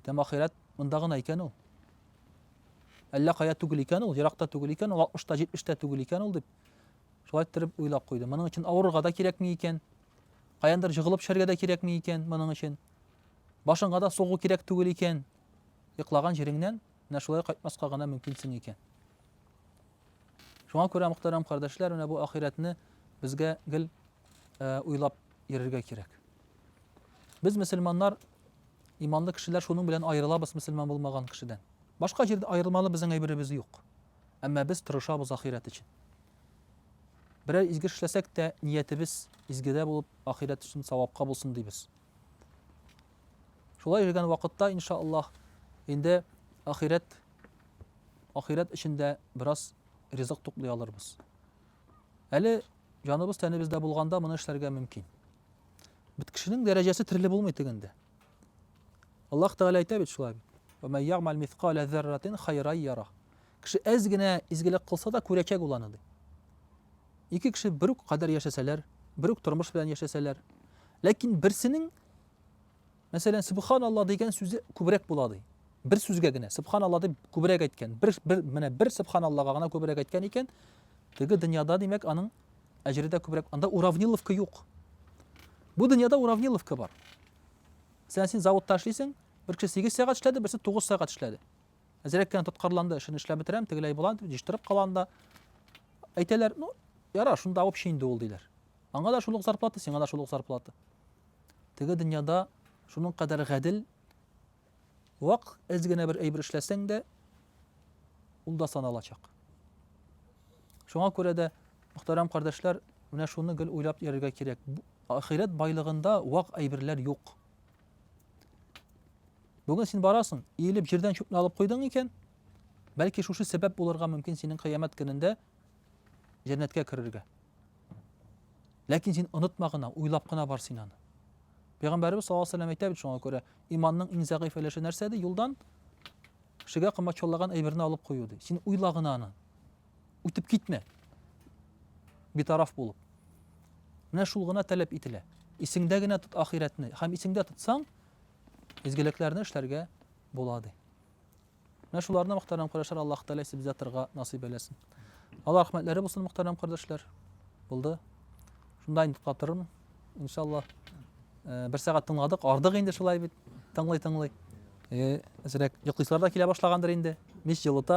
Әйтәм, ахирәт монда гына икән ул. Әллә кая түгел икән ул, еракта түгел икән ул, 60 та 70 тә түгел икән ул дип Шулай иттереп уйлап куйды. Моның өчен авырырга да кирәкми икән. Каяндыр җыгылып төшәргә дә кирәкми икән моның өчен. Башыңа да сугу кирәк түгел икән. Йоклаган җиреңнән менә шулай кайтмаска гына мөмкинсең икән. Шуңа күрә, мөхтәрәм кардәшләр, менә бу ахирәтне безгә гел э, уйлап йөрергә кирәк. Без мөселманнар иманлы кешеләр шуның белән аерылабыз мөселман булмаган кешедән. Башка җирдә аерылмалы безнең әйберебез юк. Әмма без тырышабыз ахирәт өчен. Берәр изге эш эшләсәк тә, ниятебез изгедә булып, ахирәт өчен савапка булсын дибез. Шулай йөргән вакытта, иншааллаһ, инде ахирәт ахирәт өчен дә бераз ризык туплый алырбыз. Әле җаныбыз тәнебездә булганда моны эшләргә мөмкин. Бит кешенең дәрәҗәсе төрле булмый тегендә. Аллаһ Тәгалә әйтә бит шулай. Вәмән ягмал мискалә зәрратин хайрай яра. Кеше әз генә изгелек кылса да күрәчәк ул аны ди. Ике кеше бер үк кадәр яшәсәләр, бер үк тормыш белән яшәсәләр, ләкин берсенең мәсәлән субханалла дигән сүзе күбрәк була ди. Бер сүзгә генә субханалла дип күбрәк әйткән. Бер, бер менә бер субханаллага гына күбрәк әйткән икән, теге дөньяда димәк аның Әҗредә күбрәк, анда уравниловка юк. Бу дөньяда уравниловка бар. Мәсәлән, син заводта эшлисең, бер кеше 8 сәгать эшләде, берсе 9 сәгать эшләде. Әзрәк кенә тоткарланды, эшен эшләп бетерәм, тегеләй була, дип җыштырып кала анда. Әйтәләр, ну, яра, шунда общий инде ул, диләр. Аңа да шул ук зарплата, сиңа да шул ук зарплата. Теге дөньяда шуның кадәр гадел, Вак эз генә бер әйбер эшләсәң дә, ул да саналачак. Шуңа күрә дә, мөхтәрәм кардәшләр, менә шуны гел уйлап йөрергә кирәк. Ахирәт байлыгында вак әйберләр юк. Бүген син барасың, иелеп җирдән чүпне алып куйдың икән, бәлки шушы сәбәп булырга мөмкин синең кыямәт көнендә җәннәткә керергә. Ләкин син онытма гына, уйлап кына бар син аны. Пәйгамбәрбез саллаллаһу алейһи ва сәлләм әйтә бит шуңа күрә, иманның иң зәгыйфь өлеше нәрсә ди? Юлдан кешегә кымбатчыллаган әйберне алып кую ди. Син уйла гына аны. Үтеп китмә. Битараф булып. Менә шул гына таләп ителә. Исеңдә генә тот ахиратны. Һәм исеңдә тотсаң, изгелекләрне эшләргә була ди. Менә шуларны мөхтәрәм кардәшләр Аллаһ Тәгалә сибзатрга насыйп әйләсен. Алла рәхмәтләре булсын мөхтәрәм кардәшләр. Булды. Шунда инде туктатырмын. Иншалла. Э, бер сәгать тыңладык, ардык инде шулай бит. Тыңлый-тыңлый. Э, әзрәк йоклыйсылар да килә башлагандыр инде. Мич җылыта.